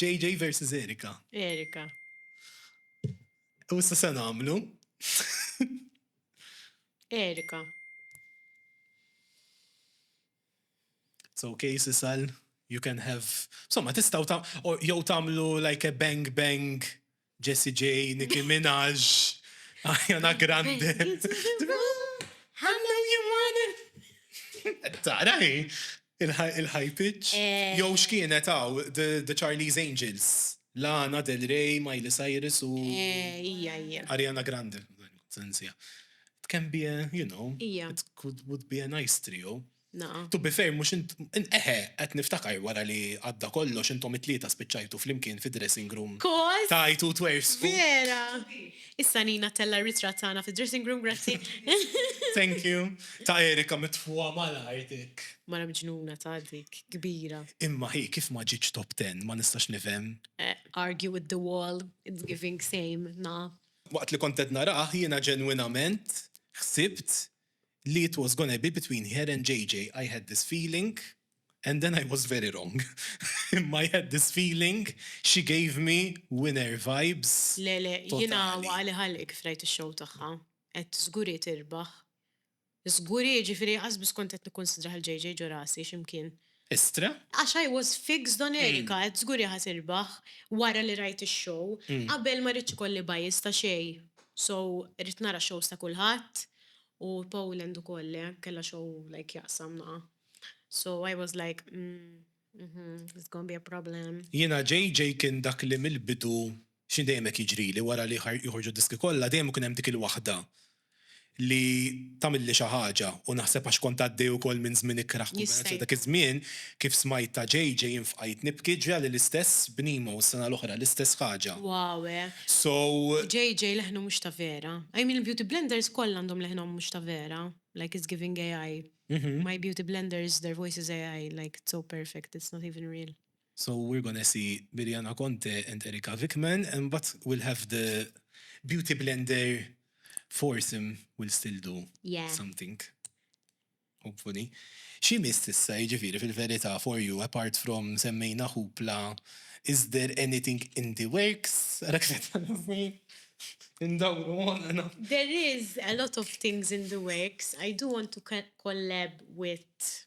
JJ versus Erika. Erika. U issa se nagħmlu. Erika. So case isal, you can have. Somma tistaw ta' jew tagħmlu like a bang bang Jessie J, Nicki Minaj, Ariana Grande. I know you want it. Tara hi, il-high pitch. Jew x'kienet hawn, The Charlie's Angels, Lana Del Rey, Miley Cyrus u Ariana Grande. It can be a, you know, it would be a nice trio. To be fair, mux int, eħe, għet niftakar wara li għadda kollox intom it-tlieta spiċċajtu fl-imkien fi dressing room. Kol! Tajtu twers. Vera! Issa Nina tella ritrat tagħna fi dressing room, grazzi. Thank you. Ta' Erika mitfuha malajr dik. Mara mġnuna ta' dik, kbira. Imma hi kif ma ġietx top 10 ma nistax nifhem. Eh, argue with the wall, it's giving same, na. Waqt li kont qed narah jiena ġenwinament ħsibt li it was gonna be between her and JJ I had this feeling and then I was very wrong imma I had this feeling she gave me winner vibes totali. Le le jiena waqali ħalq kif rajt ix-show tagħha. Għedt żgur hi tirbaħ. Żgur hi jiġifieri asbiss kont qed nikkunsidrah il-JJ ġo rasi x'imkien. Istra? Għax I was fixed on Erica, għedt żgur hi ħa tirbaħ, wara li rajt ix-show. Qabel ma rridtx ikolli bias ta' xejn, so ridt nara x-shows ta' kulħadd, u Poland ukoll le, kellha show like jaqsam naqa'. So I was like, umm, umm, it's gonna be a problem. Jiena JJ kien dak li mill-bidu X'inhi dejjem hekk jiġrili wara li joħorġu d-diski kollha dejjem ikun hemm dik il-waħda li tagħmilli xi ħaġa u naħseb għax kont għaddej ukoll minn żmien ikrah kumbinazzjoni dak iż-żmien kif smajt ta' JJ jien fqajt nibki ġrali l-istess b'Nemo s-sena l-oħra l-istess ħaġa. Wow hekk. So. JJ leħnu mhux ta' vera. I mean il-beauty blenders kollha għandhom leħnhom mhux ta' vera like it's giving AI. My beauty blenders their voice is AI like it's so perfect it's not even real. So we're gonna see Biljana Conte and Erika Vikman and but we'll have the beauty blender foursome we'll still do something yeah hopefully. Xi jmiss issa jiġifieri fil-verità for you apart from semmejna Hoopla is there anything in the works? Ara kif qed tagħrafni indawru moħħna. There is a lot of things in the works. I do want to collab with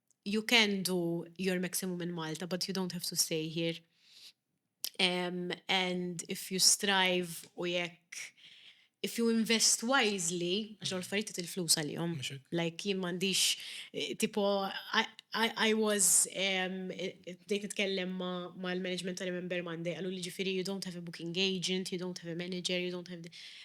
you can do your maximum in Malta but you don't have to stay here um, and if you strive u jekk if you invest wisely, għax għol affarijiet il-flus għalihom. Like jien m'għandix eh, tipo I, I, I was um, bdejt nitkellem ma' mal-management ta' Remember Monday għallu li ġifieri you don't have a booking agent, you don't have a manager, you don't have the,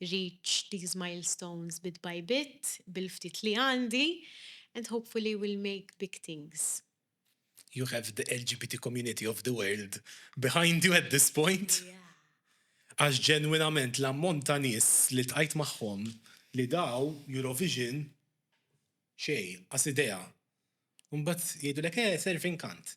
reach these milestones bit by bit, bil-ftit li għandi, and hopefully will make big things. You have the LGBT community of the world behind you at this point. Għax ġenwinament l-ammont ta' nies li ltqajt magħhom li daw Eurovision xejn, qas idea. U mbagħad jgħidulek eh serve inkant.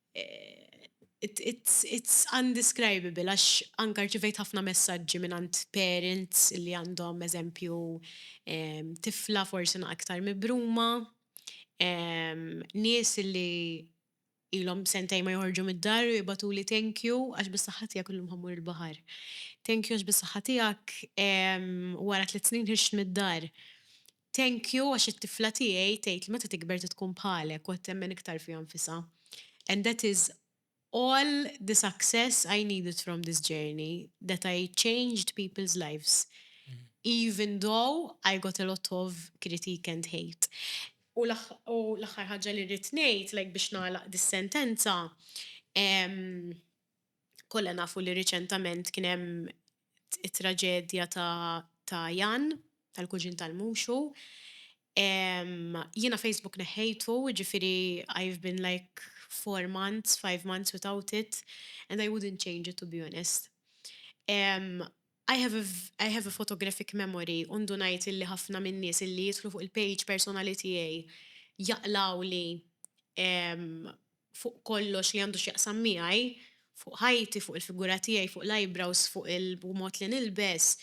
it's undescribable għax anke rċivejt ħafna messaġġi mingħand parents li għandhom eżempju tifla forsi aktar mibruma, nies li ilhom sentejn ma joħorġu mid-dar u jibgħatuli thank you għax bis-saħħa tiegħek illum ħa mmur il-baħar, thank you għax bis-saħħa tiegħek wara tliet snin ħirġt mid-dar. Thank you għax it-tifla tiegħi tgħid li meta tikber trid tkun bħalek u qed temmen iktar fiha nfisha. And that is all the success I needed from this journey that I changed people's lives even though I got a lot of critique and hate. U l-aħħar ħaġa li rrid ngħid like biex nagħlaq dis-sentenza, kollha nafu li riċentament kien hemm it-traġedja ta' ta' Jan, tal-kuġin tal-Muxu. Jiena Facebook neħħejtu, jiġifieri I've been like four months, five months without it and I wouldn't change it to be honest. I have a I have a photographic memory u ndunajt illi ħafna min-nies illi jidħlu fuq il-page personali tiegħi jaqlgħuli fuq kollox li għandu x'jaqsam miegħi, fuq ħajti, fuq il-figura tiegħi, fuq l-eyebrows, fuq il-mod li nilbes,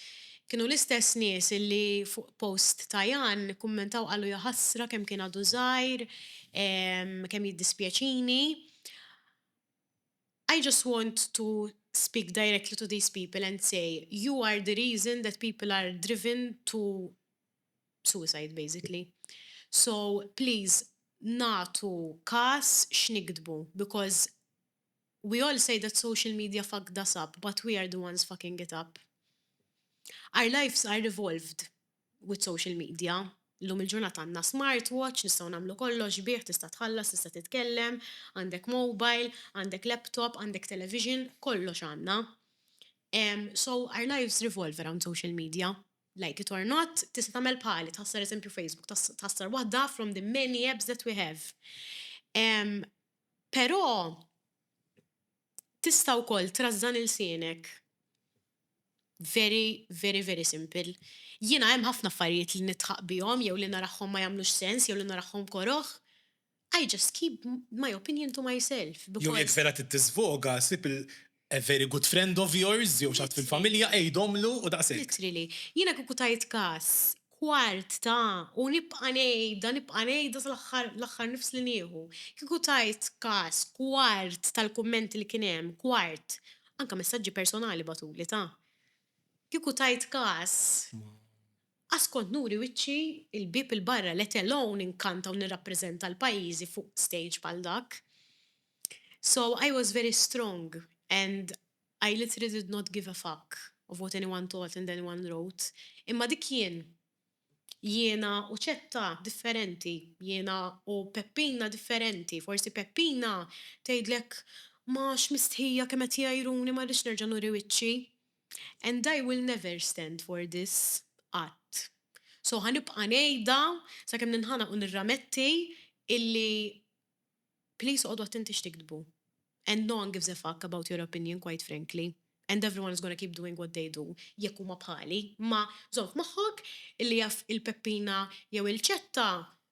kienu l-istess nies illi fuq post ta' Jan kkummentaw qalu jaħasra kemm kien għadu żgħir, kemm jiddispjaċini. I just want to speak directly to these people and say, you are the reason that people are driven to suicide basically. So please nagħtu kas x'niktbu because we all say that social media fucked us up but we are the ones fucking it up. Our lives are evolved with social media, llum il-ġurnata għandna smart watch, nistgħu nagħmlu kollox bih, tista' tħallas, tista' titkellem, għandek mobile, għandek laptop, għandek television, kollox għandna. So our lives revolve around social media. Like it or not, tista' tagħmel bħali, tħassar eżempju Facebook, tħassar waħda from the many apps that we have. Um, Però tista' wkoll trażżan il-sienek very, very, very simple. Jiena hemm ħafna affarijiet li nitħaq bihom jew li narahom ma jagħmlux sens jew li narahom koroħ. I just keep my opinion to myself because. Jew jekk vera trid tiżvoga, sib il a very good friend of yours jew xi ħadd fil-familja għidhomlu u daqshekk. Literally. Jiena kieku tajt kas kwart ta' u nibqa' ngħidha, nibqa' ngħidha sal-aħħar l-aħħar nifs li nieħu. Kieku tajt kas kwart tal-kummenti li kien hemm, kwart, anke messaġġi personali bagħtuli ta'. Kieku tajt kas. Qass kont nuri wiċċi il-bieb 'il barra let alone inkanta u nirrappreżenta l-pajjiżi fuq stage bħal dak. So I was very strong and I literally did not give a fuck of what anyone thought and anyone wrote imma dik jien. Jiena u Ċetta differenti, jiena u Peppina differenti, forsi Peppina tgħidlek ma x'mistħija kemm qed jgħajruni ma rridx nerġa' nuri wiċċi. And I will never stand for this, qatt. So ħa nibqa' ngħidha sakemm ninħanaq u nirrametti illi please oqogħdu attenti x'tiktbu. And no one gives a fuck about your opinion quite frankly. And everyone is gonna keep doing what they do jekk huma bħali. Imma żomm f'moħħok illi jaf il-Peppina jew il-Ċetta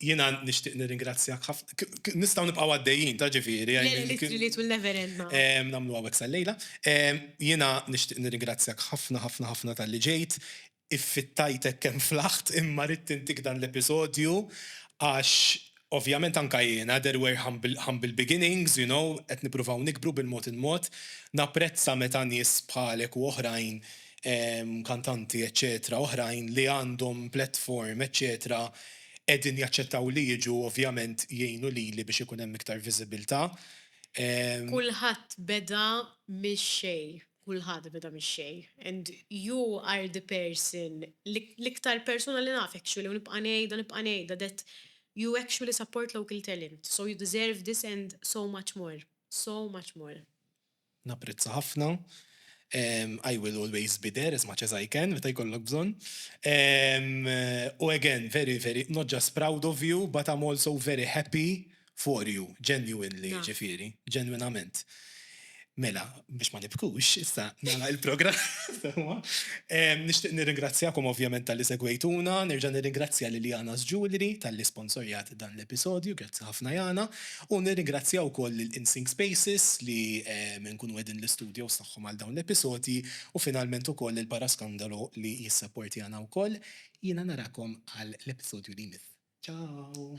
Jiena nixtieq nirringrazzjak ħafna. Nistgħu nibqgħu għaddejjin, ta' ġifieri. L-ittri li tul never end ma. Nagħmlu hawnhekk sal-lejla. Jiena nixtieq nirringrazzjak ħafna, ħafna, ħafna talli ġejt. Iffittajtek kemm flaħt imma ridt intik dan l-episodju għax Ovvjament anke jiena, there were humble humble beginnings, you know, qed nippruvaw nikbru bil-mod il-mod. Napprezza meta nies bħalek u oħrajn, kantanti eċċetera oħrajn li għandhom platform eċċetera qegħdin jaċċettaw li jiġu ovvjament jgħinu lili biex ikun hemm iktar viżibilità. Kulħadd beda mix-xejn. kulħadd beda mix-xejn and you are the person li l-iktar persuna li naf actually u nibqa' ngħidha nibqa' ngħidha that you actually support local talent so you deserve this and so much more so much more. Napprezza ħafna. I will always be there as much as I can meta jkollok bżonn. U again very very not just proud of you but I'm also very happy for you, genuinely, ġifieri, ġenwinament. Mela, biex ma nibkux, issa nara il-programm. Nixtieq nirringrazzjakom ovvjament tal-li segwejtuna, nerġa' nirringrazzja lil Jana Jewelry tal-li sponsorjat dan l-episodju, grazzi ħafna Jana, u nirringrazzja wkoll lil InSync Spaces li nkunu qegħdin l-istudios tagħhom għal dawn l-episodji, u finalment ukoll lil Paraskandalo li jissapportjana wkoll. Jiena narakom għal l-episodju li jmiss. Ciao!